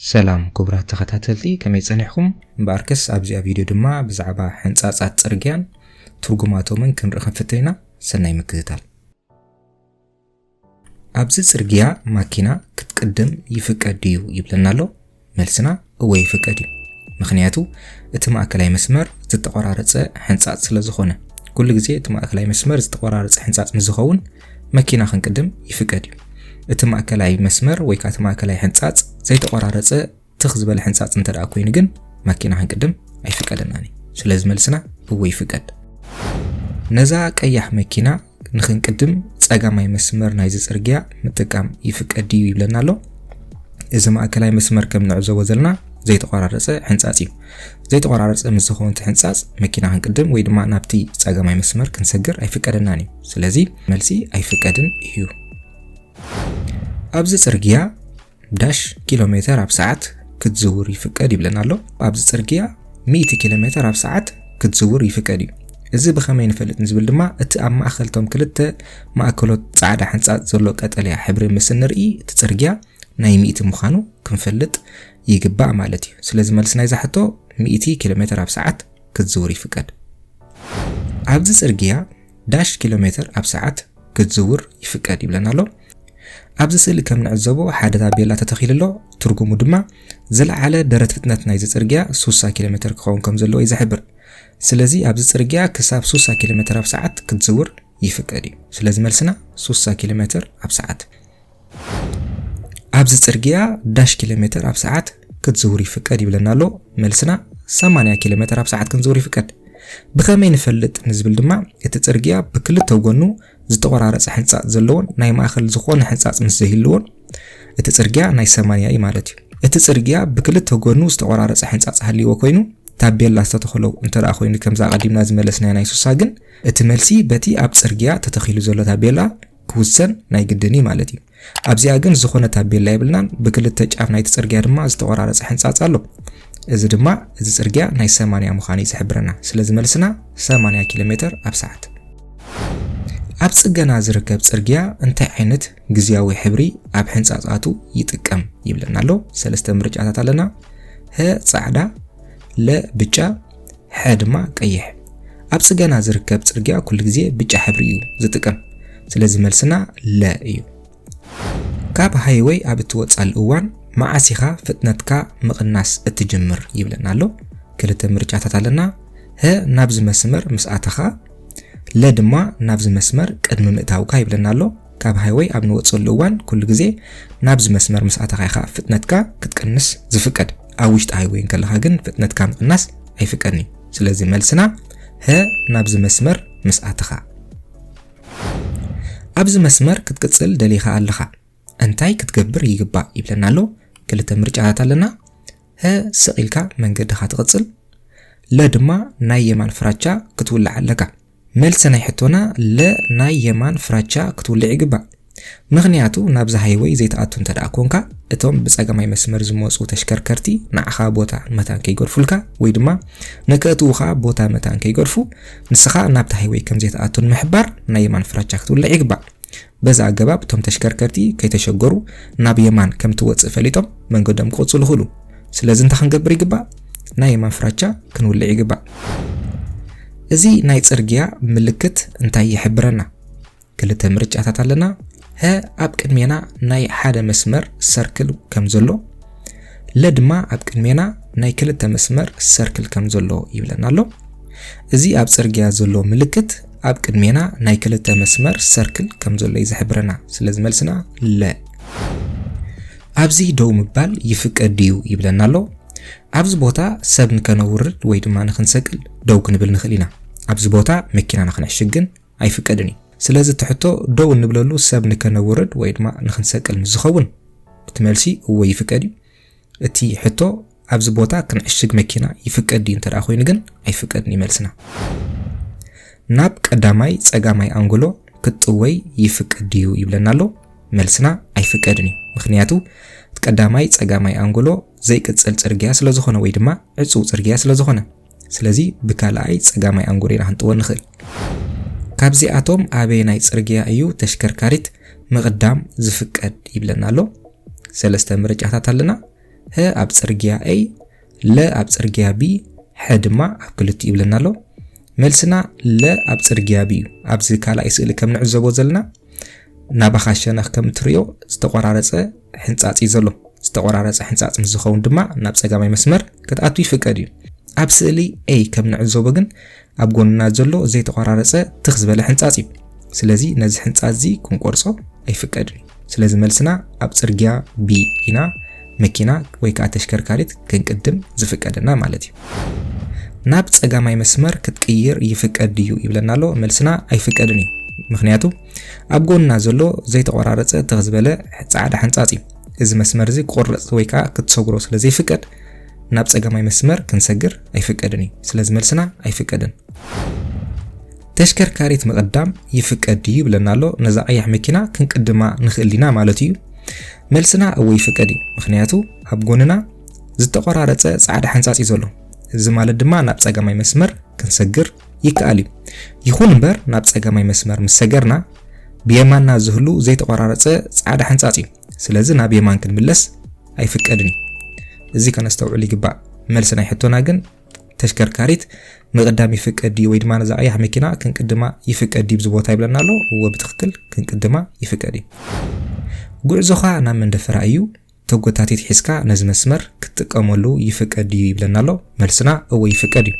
ሰላም ክቡራት ተኸታተልቲ ከመይ ጸኒሕኩም? እምበኣርከስ ኣብዚኣ ቪድዮ ድማ ብዛዕባ ሕንጻጻት ጽርግያን ትርጉማቶምን ክንርኢ ክንፍትን ኢና። ሰናይ ምክትታል። ኣብዚ ጽርግያ ማኪና ክትቅድም ይፍቀድ ድዩ ይብለና ኣሎ? መልስና እወ ይፍቀድ እዩ ምክንያቱ እቲ ማእከላይ መስመር ዝተቆራረጸ ሕንጻጽ ስለ ዝኾነ ኩሉ ግዜ እቲ ማእከላይ መስመር ዝተቆራረጸ ሕንጻጽ ምስ ዝኸውን መኪና ክንቅድም ይፍቀድ እዩ እቲ ማእከላይ መስመር ወይ ከዓ እቲ ማእከላይ ሕንጻጽ ዘይተቆራረጸ ትኽ ዝበለ ሕንጻጽ እንተ ደኣ ኮይኑ ግን መኪና ክንቅድም ኣይፍቀደናን እዩ። ስለዚ መልስና እወ ይፍቀድ። ነዛ ቀያሕ መኪና ንክንቅድም ጸጋማይ መስመር ናይዚ ጽርግያ ምጥቃም ይፍቀድ ድዩ ይብለና ኣሎ እዚ ማእከላይ መስመር ከም ንዕዘቦ ዘለና ዘይተቆራረጸ ሕንጻጽ እዩ ዘይተቆራረጸ ምስ ዝኾነ እቲ ሕንጻጽ መኪና ክንቅድም ወይ ድማ ናብቲ ጸጋማይ መስመር ክንሰግር ኣይፍቀደናን እዩ ስለዚ መልሲ ኣይፍቀድን እዩ ኣብዚ ጽርግያ ዳሽ ኪሎ ሜተር ኣብ ሰዓት ክትዝውር ይፍቀድ ይብለና ኣሎ። ኣብዚ ጽርግያ 100 ኪሎ ሜተር ኣብ ሰዓት ክትዝውር ይፍቀድ እዩ። እዚ ብኸመይ ንፈልጥ ንዝብል ድማ እቲ ኣብ ማእከል እቶም ክልተ ማእከሎት ጻዕዳ ሕንጻጽ ዘሎ ቀጠልያ ሕብሪ ምስ እንርኢ እቲ ጽርግያ ናይ ሚእቲ ምዃኑ ክንፈልጥ ይግባእ ማለት እዩ። ስለዚ መልሲ ናይዛ ሕቶ ሚእቲ ኪሎ ሜተር ኣብ ሰዓት ክትዝውር ይፍቀድ። ኣብዚ ጽርግያ ዳሽ ኪሎ ሜተር ኣብ ሰዓት ክትዝውር ይፍቀድ ይብለና ኣሎ። ኣብዚ ስእሊ ከም ንዕዘቦ ሓደ ታቤላ ተተኺሉ ኣሎ። ትርጉሙ ድማ ዝለዓለ ደረት ፍጥነት ናይዚ ጽርግያ 60 ኪሎ ሜተር ክኸውን ከም ዘለዎ እዩ ዝሕብር። ስለዚ ኣብዚ ጽርግያ ክሳብ 60 ኪሎ ሜተር ኣብ ሰዓት ክትዝውር ይፍቀድ እዩ። ስለዚ መልስና 60 ኪሎ ሜተር ኣብ ሰዓት ኣብዚ ጽርግያ ዳሽ ኪሎ ሜተር ኣብ ሰዓት ክትዝውር ይፍቀድ ይብለና ኣሎ መልስና 80 ኪሎ ሜተር ኣብ ሰዓት ክንዝውር ይፍቀድ ብኸመይ ንፈልጥ ንዝብል ድማ እቲ ጽርግያ ብክልተ ጎኑ ዝተቆራረፀ ሕንፃፅ ዘለዎን ናይ ማእኸል ዝኾነ ሕንፃፅ ምስ ዘይህልዎን እቲ ጽርግያ ናይ ሰማንያ እዩ ማለት እዩ እቲ ጽርግያ ብክልተ ጎኑ ዝተቆራረፀ ሕንፃፅ ሃልዎ ኮይኑ ታቤላ ዝተተኽለው እንተ ኮይኑ ከምዛ ቀዲምና ዝመለስናያ ናይ ሱሳ ግን እቲ መልሲ በቲ ኣብ ጽርግያ ተተኺሉ ዘሎ ታቤላ ክውሰን ናይ ግድን እዩ ማለት እዩ። ኣብዚኣ ግን ዝኾነ ታቤላ የብልናን፣ ብክልተ ጫፍ ናይቲ ጽርግያ ድማ ዝተቖራረጸ ሕንጻጽ ኣሎ። እዚ ድማ እዚ ጽርግያ ናይ ሰማንያ ምዃኑ እዩ ዝሕብረና። ስለዚ መልስና ሰማንያ ኪሎ ሜተር ኣብ ሰዓት። ኣብ ጽገና ዝርከብ ጽርግያ እንታይ ዓይነት ግዝያዊ ሕብሪ ኣብ ሕንጻጻቱ ይጥቀም ይብለና ኣሎ። ሰለስተ ምርጫታት ኣለና። ሀ ጻዕዳ፣ ለ ብጫ፣ ሐ ድማ ቀይሕ። ኣብ ፅገና ዝርከብ ፅርግያ ኩሉ ግዜ ብጫ ሕብሪ እዩ ዝጥቅም ስለዚ መልስና ለ እዩ። ካብ ሃይወይ ኣብ እትወፅኣሉ እዋን መዓስ ኢኻ ፍጥነትካ ምቕናስ እትጅምር ይብለና ኣሎ። ክልተ ምርጫታት ኣለና፣ ሀ ናብዚ መስመር ምስ ኣተኻ፣ ለ ድማ ናብዚ መስመር ቅድሚ ምእታውካ ይብለና ኣሎ። ካብ ሃይወይ ኣብ ንወፅኣሉ እዋን ኩሉ ግዜ ናብዚ መስመር ምስ ኣተኻ ኢኻ ፍጥነትካ ክትቅንስ ዝፍቀድ። ኣብ ውሽጢ ሃይወይ እንከለኻ ግን ፍጥነትካ ምቕናስ ኣይፍቀድን እዩ። ስለዚ መልስና ሀ ናብዚ መስመር ምስ ኣተኻ። ኣብዚ መስመር ክትቅጽል ደሊኻ ኣለኻ እንታይ ክትገብር ይግባእ ይብለና ኣሎ። ክልተ ምርጫታት ኣለና። ሀ ስቕ ኢልካ መንገድኻ ትቕጽል፣ ለ ድማ ናይ የማን ፍራቻ ክትውላዕ ኣለካ። መልሲ ናይ ሕቶና ለ ናይ የማን ፍራቻ ክትውልዕ ይግባእ ምኽንያቱ ናብዚ ሃይወይ ዘይትኣቱ እንተደኣ ኮንካ እቶም ብጸጋማይ መስመር ዝመጹ ተሽከርከርቲ ንዓኻ ቦታ መታን ከይገድፉልካ ወይ ድማ ንከእትውኻ ቦታ መታን ከይገድፉ ንስኻ ናብቲ ሃይወይ ከምዘይትኣቱ ንምሕባር ናይ የማን ፍራቻ ክትውልዕ ይግባእ። በዚ ኣገባብ እቶም ተሽከርከርቲ ከይተሸገሩ ናብ የማን ከም እትወጽእ ፈሊጦም መንገዶም ክቕጽሉ ይኽእሉ። ስለዚ እንታይ ክንገብር ይግባእ? ናይ የማን ፍራቻ ክንውልዕ ይግባእ። እዚ ናይ ጽርግያ ምልክት እንታይ ይሕብረና? ክልተ ምርጫታት ኣለና፣ ሀ ኣብ ቅድሜና ናይ ሓደ መስመር ሰርክል ከም ዘሎ፣ ለ ድማ ኣብ ቅድሜና ናይ ክልተ መስመር ሰርክል ከም ዘሎ ይብለና ኣሎ። እዚ ኣብ ጽርግያ ዘሎ ምልክት ኣብ ቅድሜና ናይ ክልተ መስመር ሰርክል ከም ዘሎ እዩ ዝሕብረና። ስለዚ መልስና ለ። ኣብዚ ደው ምባል ይፍቀድ ድዩ ይብለና ኣሎ። ኣብዚ ቦታ ሰብ ንከነውርድ ወይ ድማ ንክንሰቅል ደው ክንብል ንኽእል ኢና። ኣብዚ ቦታ መኪናና ክነዕሽግ ግን ኣይፍቀድን እዩ። ስለዚ እቲ ሕቶ ደው እንብለሉ ሰብ ንከነውርድ ወይ ድማ ንክንሰቅል ምስ ዝኸውን እቲ መልሲ እወ ይፍቀድ እዩ። እቲ ሕቶ ኣብዚ ቦታ ክንዕሽግ መኪና ይፍቀድ ድዩ እንተደኣ ኮይኑ ግን ኣይፍቀድን እዩ መልስና። ናብ ቀዳማይ ጸጋማይ ኣንጎሎ ክትጥወይ ይፍቀድ ድዩ ይብለና ኣሎ። መልስና ኣይፍቀድን እዩ። ምክንያቱ ቀዳማይ ጸጋማይ ኣንጎሎ ዘይቅጽል ጽርግያ ስለዝኾነ ወይ ድማ ዕጹው ጽርግያ ስለዝኾነ ስለዚ ብካልኣይ ጸጋማይ ኣንጎር ኢና ክንጥዎ እንኽእል። ካብዚኣቶም ኣበየናይ ጽርግያ እዩ ተሽከርካሪት ምቕዳም ዝፍቀድ ይብለና ኣሎ። ሰለስተ ምርጫታት ኣለና። ሀ ኣብ ጽርግያ A፣ ለ ኣብ ጽርግያ B፣ ሐ ድማ ኣብ ክልቲኡ ይብለና ኣሎ። መልስና ለ ኣብ ጽርግያ B እዩ። ኣብዚ ካልኣይ ስእሊ ከም ንዕዘቦ ዘለና ናባኻ ሸነኽ ከም እትርእዮ ዝተቆራረጸ ሕንጻጽ እዩ ዘሎ። ዝተቆራረጸ ሕንጻጽ ምስ ዝኸውን ድማ ናብ ጸጋማይ መስመር ክትኣቱ ይፍቀድ እዩ። ኣብ ስእሊ A ከም ንዕዘቦ ግን ኣብ ጎንና ዘሎ ዘይተቆራረጸ ትኽ ዝበለ ሕንጻጽ እዩ። ስለዚ ነዚ ሕንጻጽ እዚ ክንቆርጾ ኣይፍቀድን። ስለዚ መልስና ኣብ ጽርግያ B ኢና። መኪና ወይ ከኣ ተሽከርካሪት ክንቅድም ዝፍቀደና ማለት እዩ። ናብ ጸጋማይ መስመር ክትቅይር ይፍቀድ ድዩ ይብለና ኣሎ። መልስና ኣይፍቀድን እዩ። ምክንያቱ ኣብ ጎንና ዘሎ ዘይተቆራረጸ ትኽ ዝበለ ጻዕዳ ሕንጻጽ እዩ። እዚ መስመር እዚ ክቁረጽ ወይ ከኣ ክትሰግሮ ስለ ዘይፍቀድ ናብ ጸጋማይ መስመር ክንሰግር ኣይፍቀድን እዩ። ስለዚ መልስና ኣይፍቀድን። ተሽከርካሪት ምቕዳም ይፍቀድ ድዩ ይብለና ኣሎ። ነዛ ቀያሕ መኪና ክንቅድማ ንኽእል ኢና ማለት እዩ። መልስና እወ ይፍቀድ እዩ፣ ምኽንያቱ ኣብ ጎንና ዝተቆራረጸ ጻዕዳ ሓንጻጽ እዩ ዘሎ። እዚ ማለት ድማ ናብ ጸጋማይ መስመር ክንሰግር ይከኣል እዩ። ይኹን እምበር ናብ ጸጋማይ መስመር ምስ ሰገርና ብየማንና ዝህሉ ዘይተቆራረጸ ጻዕዳ ሓንጻጽ እዩ። ስለዚ ናብ የማን ክንምለስ ኣይፍቀድን እዩ። እዚ ከነስተውዕል ይግባእ። መልሲ ናይ ሕቶና ግን ተሽከርካሪት ምቕዳም ይፍቀድ ድዩ ወይ ድማ ነዛ ቀያሕ መኪና ክንቅድማ ይፍቀድ ድዩ ብዝቦታ ይብለና ኣሎ እዎ ብትክክል ክንቅድማ ይፍቀድ እዩ ጉዕዞኻ ናብ መንደፈራ እዩ ተጎታቲት ሒዝካ ነዚ መስመር ክትጥቀመሉ ይፍቀድ ድዩ ይብለና ኣሎ መልስና እዎ ይፍቀድ እዩ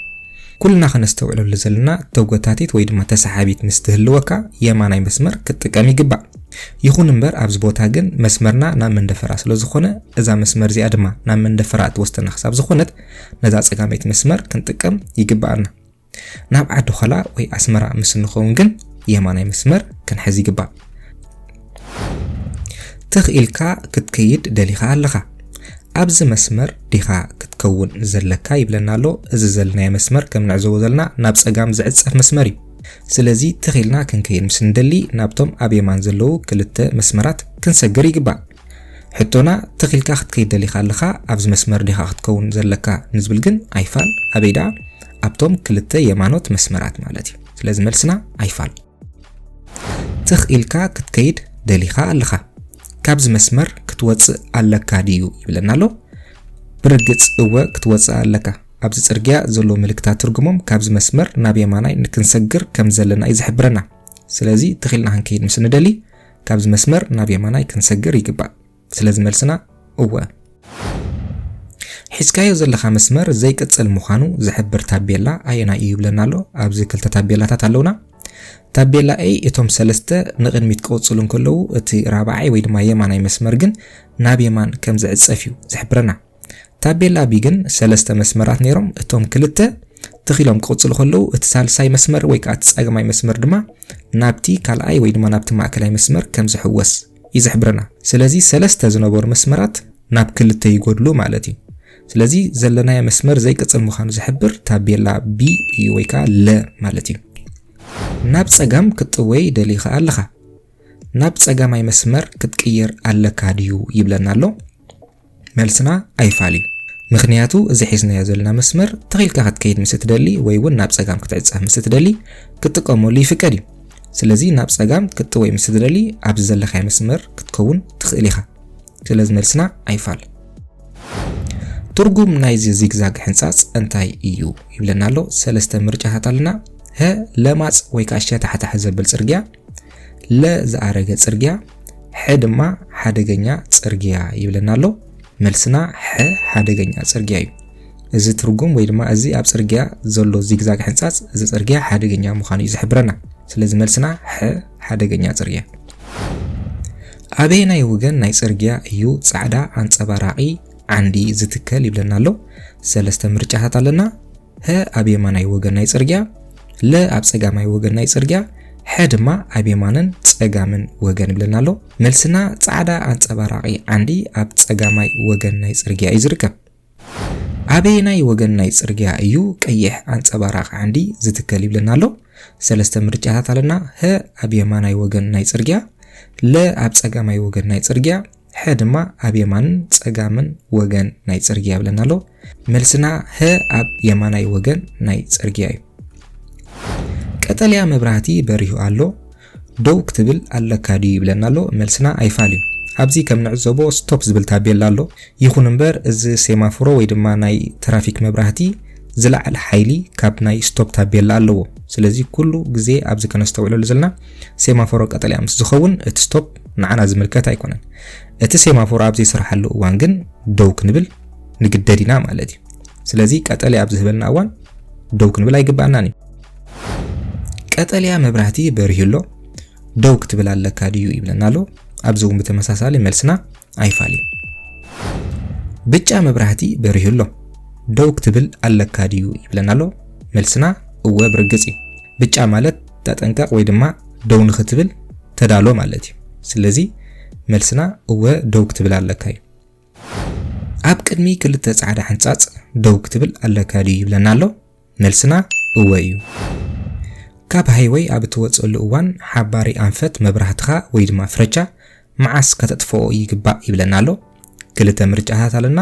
ኩልና ከነስተውዕለሉ ዘለና ተጎታቲት ወይ ድማ ተሰሓቢት ምስ ትህልወካ የማናይ መስመር ክትጥቀም ይግባእ ይኹን እምበር ኣብዚ ቦታ ግን መስመርና ናብ መንደፈራ ስለ ዝኾነ እዛ መስመር እዚኣ ድማ ናብ መንደፈራ እትወስደና ክሳብ ዝኾነት ነዛ ጸጋመይቲ መስመር ክንጥቀም ይግብኣና። ናብ ዓዲ ኾላ ወይ ኣስመራ ምስ እንኸውን ግን የማናይ መስመር ክንሕዝ ይግባእ። ትኽ ኢልካ ክትከይድ ደሊኻ ኣለኻ ኣብዚ መስመር ዲኻ ክትከውን ዘለካ ይብለና ኣሎ። እዚ ዘለናዮ መስመር ከም ንዕዘቦ ዘለና ናብ ጸጋም ዝዕጸፍ መስመር እዩ። ስለዚ ትኽ ኢልና ክንከይድ ምስ እንደሊ ናብቶም ኣብ የማን ዘለዉ ክልተ መስመራት ክንሰግር ይግባእ። ሕቶና ትኽ ኢልካ ክትከይድ ደሊኻ ኣለኻ ኣብዚ መስመር ዲኻ ክትከውን ዘለካ ንዝብል ግን ኣይፋል ኣበይ ደኣ ኣብቶም ክልተ የማኖት መስመራት ማለት እዩ ስለዚ መልስና ኣይፋል ትኽ ኢልካ ክትከይድ ደሊኻ ኣለኻ ካብዚ መስመር ክትወጽእ ኣለካ ድዩ ይብለና ኣሎ ብርግጽ እወ ክትወጽእ ኣለካ ኣብዚ ጽርግያ ዘሎ ምልክታት ትርጉሞም ካብዚ መስመር ናብ የማናይ ንክንሰግር ከም ዘለና እዩ ዝሕብረና ስለዚ ትኺልና ክንከይድ ምስ ንደሊ ካብዚ መስመር ናብ የማናይ ክንሰግር ይግባእ። ስለዚ መልስና እወ። ሒዝካዮ ዘለኻ መስመር ዘይቅጽል ምዃኑ ዝሕብር ታቤላ ኣየናይ እዩ ይብለና ኣሎ። ኣብዚ ክልተ ታቤላታት ኣለውና። ታቤላ A እቶም ሰለስተ ንቕድሚት ክቕጽሉ እንከለዉ እቲ ራብዓይ ወይ ድማ የማናይ መስመር ግን ናብ የማን ከም ዝዕጸፍ እዩ ዝሕብረና። ታቤላ ብ ግን ሰለስተ መስመራት ነይሮም፣ እቶም ክልተ ትኽ ኢሎም ክቕጽሉ ከለዉ፣ እቲ ሳልሳይ መስመር ወይ ከኣ እቲ ጸጋማይ መስመር ድማ ናብቲ ካልኣይ ወይ ድማ ናብቲ ማእከላይ መስመር ከም ዝሕወስ እዩ ዝሕብረና። ስለዚ ሰለስተ ዝነበሩ መስመራት ናብ ክልተ ይጎድሉ ማለት እዩ። ስለዚ ዘለናዮ መስመር ዘይቅጽል ምዃኑ ዝሕብር ታቤላ B እዩ ወይ ከኣ ለ ማለት እዩ። ናብ ጸጋም ክትጥወይ ደሊኻ ኣለኻ። ናብ ጸጋማይ መስመር ክትቅየር ኣለካ ድዩ ይብለና ኣሎ። መልስና ኣይፋል እዩ። ምኽንያቱ እዚ ሒዝናዮ ዘለና መስመር ትኽ ኢልካ ክትከይድ ምስ እትደሊ ወይ እውን ናብ ጸጋም ክትዕጸፍ ምስ እትደሊ ክትጥቀመሉ ይፍቀድ እዩ። ስለዚ ናብ ጸጋም ክትጥወይ ምስ እትደሊ ኣብዚ ዘለኻዮ መስመር ክትከውን ትኽእል ኢኻ። ስለዚ መልስና ኣይፋል። ትርጉም ናይዚ ዚግዛግ ሕንጻጽ እንታይ እዩ ይብለና ኣሎ። ሰለስተ ምርጫታት ኣለና። ሀ ለማጽ ወይ ከዓ ሸታሕታሕ ዘብል ጽርግያ ለ ዝኣረገ ጽርግያ ሐ ድማ ሓደገኛ ጽርግያ ይብለና ኣሎ። መልስና ሐ ሓደገኛ ጽርግያ እዩ። እዚ ትርጉም ወይ ድማ እዚ ኣብ ጽርግያ ዘሎ ዚግዛግ ሕንጻጽ እዚ ጽርግያ ሓደገኛ ምዃኑ እዩ ዝሕብረና። ስለዚ መልስና ሐ ሓደገኛ ጽርግያ። ኣበየናይ ወገን ናይ ጽርግያ እዩ ጻዕዳ ኣንጸባራቒ ዓንዲ ዝትከል ይብለና ኣሎ። ሰለስተ ምርጫታት ኣለና። ሀ ኣብ የማናይ ወገን ናይ ጽርግያ፣ ለ ኣብ ጸጋማይ ወገን ናይ ጽርግያ፣ ሐ ድማ ኣብ የማንን ጸጋምን ወገን ይብለና ኣሎ። መልስና ጻዕዳ ኣንጸባራቒ ዓንዲ ኣብ ጸጋማይ ወገን ናይ ጽርግያ እዩ ዝርከብ። ኣበየናይ ወገን ናይ ጽርግያ እዩ ቀይሕ ኣንጸባራቂ ዓንዲ ዝትከል ይብለና ኣሎ። ሰለስተ ምርጫታት ኣለና። ሀ ኣብ የማናይ ወገን ናይ ጽርግያ፣ ለ ኣብ ጸጋማይ ወገን ናይ ጽርግያ፣ ሐ ድማ ኣብ የማንን ጸጋምን ወገን ናይ ጽርግያ ይብለና ኣሎ። መልስና ሀ ኣብ የማናይ ወገን ናይ ጽርግያ እዩ። ቀጠልያ መብራህቲ በሪሁ ኣሎ ደው ክትብል ኣለካ ድዩ ይብለና ኣሎ። መልስና ኣይፋል እዩ። ኣብዚ ከም ንዕዘቦ ስቶፕ ዝብል ታቤላ ኣሎ። ይኹን እምበር እዚ ሴማፎሮ ወይ ድማ ናይ ትራፊክ መብራህቲ ዝለዓለ ሓይሊ ካብ ናይ ስቶፕ ታቤላ ኣለዎ። ስለዚ ኩሉ ግዜ ኣብዚ ከነስተውዕለሉ ዘለና ሴማፎሮ ቀጠልያ ምስ ዝኸውን እቲ ስቶፕ ንዓና ዝምልከት ኣይኮነን። እቲ ሴማፎር ኣብ ዘይስርሓሉ እዋን ግን ደው ክንብል ንግደድ ኢና ማለት እዩ። ስለዚ ቀጠልያ ኣብ ዝህበልና እዋን ደው ክንብል ኣይግባእናን እዩ። ቀጠልያ መብራህቲ በሪሁ ኣሎ ደው ክትብል ኣለካ ድዩ ይብለና ኣሎ። ኣብዚ እውን ብተመሳሳሊ መልስና ኣይፋልዩ። ብጫ መብራህቲ በሪሁ ኣሎ ደው ክትብል ኣለካ ድዩ ይብለና ኣሎ። መልስና እወ ብርግጽ እዩ። ብጫ ማለት ተጠንቀቕ ወይ ድማ ደው ንኽትብል ተዳሎ ማለት እዩ። ስለዚ መልስና እወ ደው ክትብል ኣለካ እዩ። ኣብ ቅድሚ ክልተ ጻዕዳ ሕንጻጽ ደው ክትብል ኣለካ ድዩ ይብለና ኣሎ? መልስና እወ እዩ። ካብ ሃይወይ ኣብ እትወጽእሉ እዋን ሓባሪ ኣንፈት መብራህትኻ ወይ ድማ ፍረቻ መዓስ ከተጥፍኦ ይግባእ ይብለና ኣሎ? ክልተ ምርጫታት ኣለና።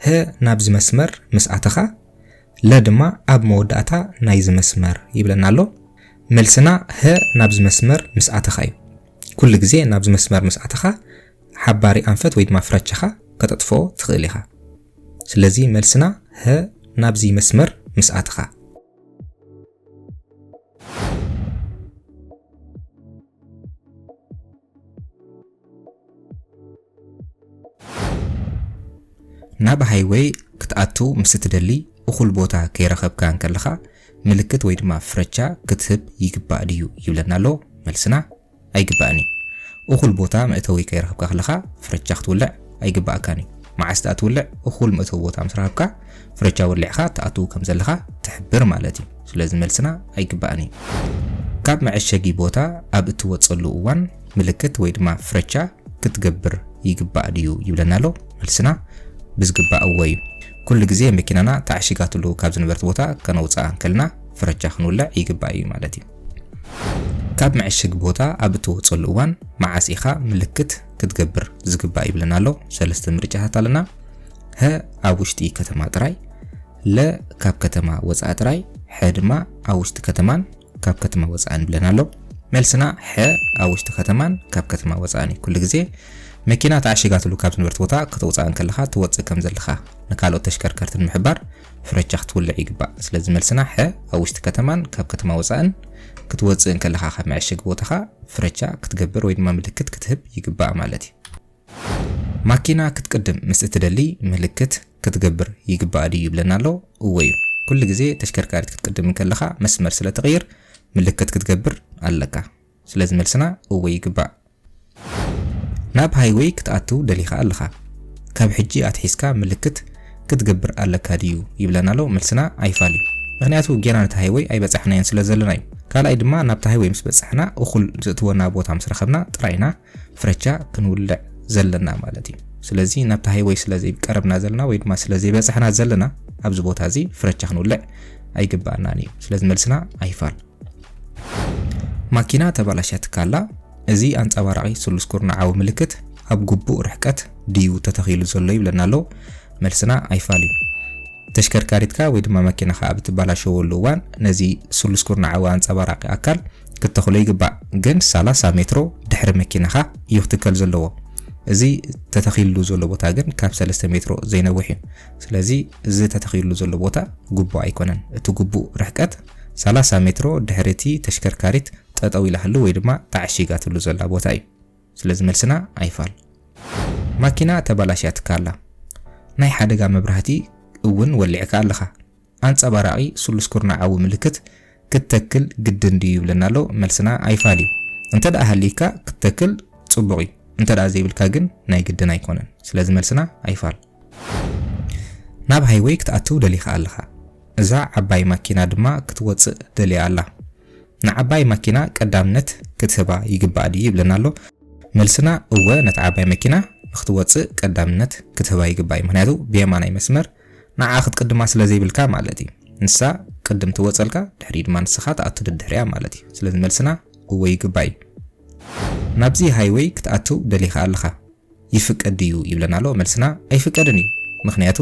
ህ ናብዚ መስመር ምስ ኣተኻ፣ ለ ድማ ኣብ መወዳእታ ናይዚ መስመር ይብለና ኣሎ። መልስና ህ ናብዚ መስመር ምስ ኣተኻ እዩ። ኩሉ ግዜ ናብዚ መስመር ምስ ኣተኻ ሓባሪ ኣንፈት ወይ ድማ ፍረቻኻ ከተጥፍኦ ትኽእል ኢኻ። ስለዚ መልስና ህ ናብዚ መስመር ምስ ኣተኻ። ናብ ሃይወይ ክትኣቱ ምስ እትደሊ እኹል ቦታ ከይረኸብካ እንከለኻ ምልክት ወይ ድማ ፍረቻ ክትህብ ይግባእ ድዩ ይብለና ኣሎ። መልስና ኣይግባእን እዩ። እኹል ቦታ መእተዊ ከይረኸብካ ከለኻ ፍረቻ ክትውልዕ ኣይግባእካን እዩ። መዓስ ድኣ ትውልዕ? እኹል መእተዊ ቦታ ምስ ረኸብካ ፍረቻ ወሊዕኻ ትኣትው ከም ዘለኻ ትሕብር ማለት እዩ። ስለዚ መልስና ኣይግባእን እዩ። ካብ መዐሸጊ ቦታ ኣብ እትወጸሉ እዋን ምልክት ወይ ድማ ፍረቻ ክትገብር ይግባእ ድዩ ይብለና ኣሎ? መልስና ብዝግባእ እወ እዩ። ኩሉ ግዜ መኪናና ተዓሺጋትሉ ካብ ዝነበረት ቦታ ከነውጽኣ እንከልና ፍረቻ ክንውልዕ ይግባእ እዩ ማለት እዩ። ካብ መዐሸጊ ቦታ ኣብ እትወጽኣሉ እዋን መዓስ ኢኻ ምልክት ክትገብር ዝግባእ ይብለና ኣሎ? ሰለስተ ምርጫታት ኣለና። ሀ ኣብ ውሽጢ ከተማ ጥራይ፣ ለ ካብ ከተማ ወጻኢ ጥራይ፣ ሐ ድማ ኣብ ውሽጢ ከተማን ካብ ከተማ ወጻእን ይብለና ኣሎ። መልስና ሐ ኣብ ውሽጢ ከተማን ካብ ከተማ ወጻእን እዩ። ኩሉ ግዜ መኪና ተዓሺጋትሉ ካብ ዝነበረት ቦታ ከተውጽኣ እንከለኻ ትወጽእ ከም ዘለኻ ንካልኦት ተሽከርከርቲ ንምሕባር ፍረቻ ክትውልዕ ይግባእ። ስለዚ መልስና ሐ ኣብ ውሽጢ ከተማን ካብ ከተማ ወጻእን ክትወጽእ እንከለኻ ካብ መዐሸጊ ቦታኻ ፍረቻ ክትገብር ወይ ድማ ምልክት ክትህብ ይግባእ ማለት እዩ። ማኪና ክትቅድም ምስ እትደሊ ምልክት ክትገብር ይግባኣ ድዩ ይብለና ኣሎ? እወ እዩ። ኩሉ ግዜ ተሽከርካሪት ክትቅድም እንከለኻ መስመር ስለ እትቕይር ምልክት ክትገብር ኣለካ። ስለዚ መልስና እወ ይግባእ። ናብ ሃይወይ ክትኣትው ደሊኻ ኣለኻ? ካብ ሕጂ ኣትሒዝካ ምልክት ክትገብር ኣለካ ድዩ ይብለና ኣሎ? መልስና ኣይፋል እዩ። ምክንያቱ ጌና ነቲ ሃይወይ ኣይበጻሕናዮን ስለ ዘለና እዩ። ካልኣይ ድማ ናብቲ ሃይወይ ምስ በጻሕና እኹል ዘእትወና ቦታ ምስ ረኸብና ጥራይ ኢና ፍረቻ ክንውልዕ ዘለና ማለት እዩ። ስለዚ ናብታ ሃይወይ ስለ ዘይቀረብና ዘለና ወይ ድማ ስለ ዘይበጻሕና ዘለና ኣብዚ ቦታ እዚ ፍረቻ ክንውልዕ ኣይግባኣናን እዩ። ስለዚ መልስና ኣይፋል። ማኪና ተባላሽያትካ ኣላ። እዚ ኣንጸባራቒ ስሉስ ኩርናዓዊ ምልክት ኣብ ግቡእ ርሕቀት ድዩ ተተኺሉ ዘሎ ይብለና ኣሎ። መልስና ኣይፋል እዩ። ተሽከርካሪትካ ወይ ድማ መኪናኻ ኣብ እትበላሸወሉ እዋን ነዚ ስሉስ ኩርናዓዊ ኣንጸባራቒ ኣካል ክተኽሎ ይግባእ ግን ሰላሳ ሜትሮ ድሕሪ መኪናኻ እዩ ክትከል ዘለዎ እዚ ተተኺልሉ ዘሎ ቦታ ግን ካብ ሰለስተ ሜትሮ ዘይነውሕ እዩ ስለዚ እዚ ተተኺልሉ ዘሎ ቦታ ግቡእ ኣይኮነን እቲ ግቡእ ርሕቀት ሰላሳ ሜትሮ ድሕሪ እቲ ተሽከርካሪት ጠጠው ኢላትሉ ወይ ድማ ተዓሺጋትሉ ዘላ ቦታ እዩ ስለዚ መልስና ኣይፋል ማኪና ተባላሽያትካ ኣላ ናይ ሓደጋ መብራህቲ እውን ወሊዕካ ኣለኻ ኣንጸባራቒ ስሉስ ኩርናዓዊ ምልክት ክትተክል ግድን ድዩ ይብለና ኣሎ። መልስና ኣይፋል እዩ። እንተድኣ ሃልይካ ክትተክል ጽቡቕ እዩ። እንተድኣ ዘይብልካ ግን ናይ ግድን ኣይኮነን። ስለዚ መልስና ኣይፋል። ናብ ሃይወይ ክትኣትው ደሊኻ ኣለኻ። እዛ ዓባይ ማኪና ድማ ክትወጽእ ደልያ ኣላ። ንዓባይ ማኪና ቀዳምነት ክትህባ ይግባእ ድዩ ይብለና ኣሎ። መልስና እወ ነታ ዓባይ መኪና ንክትወጽእ ቀዳምነት ክትህባ ይግባእ እዩ። ምክንያቱ ብየማናይ መስመር ንዓ ክትቅድማ ስለ ዘይብልካ ማለት እዩ ንሳ ቅድም ትወጸልካ ድሕሪኡ ድማ ንስኻ ትኣቱ ደድሕሪኣ ማለት እዩ ስለዚ መልስና እወ ይግባእ እዩ ናብዚ ሃይወይ ክትኣትው ደሊኻ ኣለኻ ይፍቀድ ድዩ ይብለና ኣሎ መልስና ኣይፍቀድን እዩ ምክንያቱ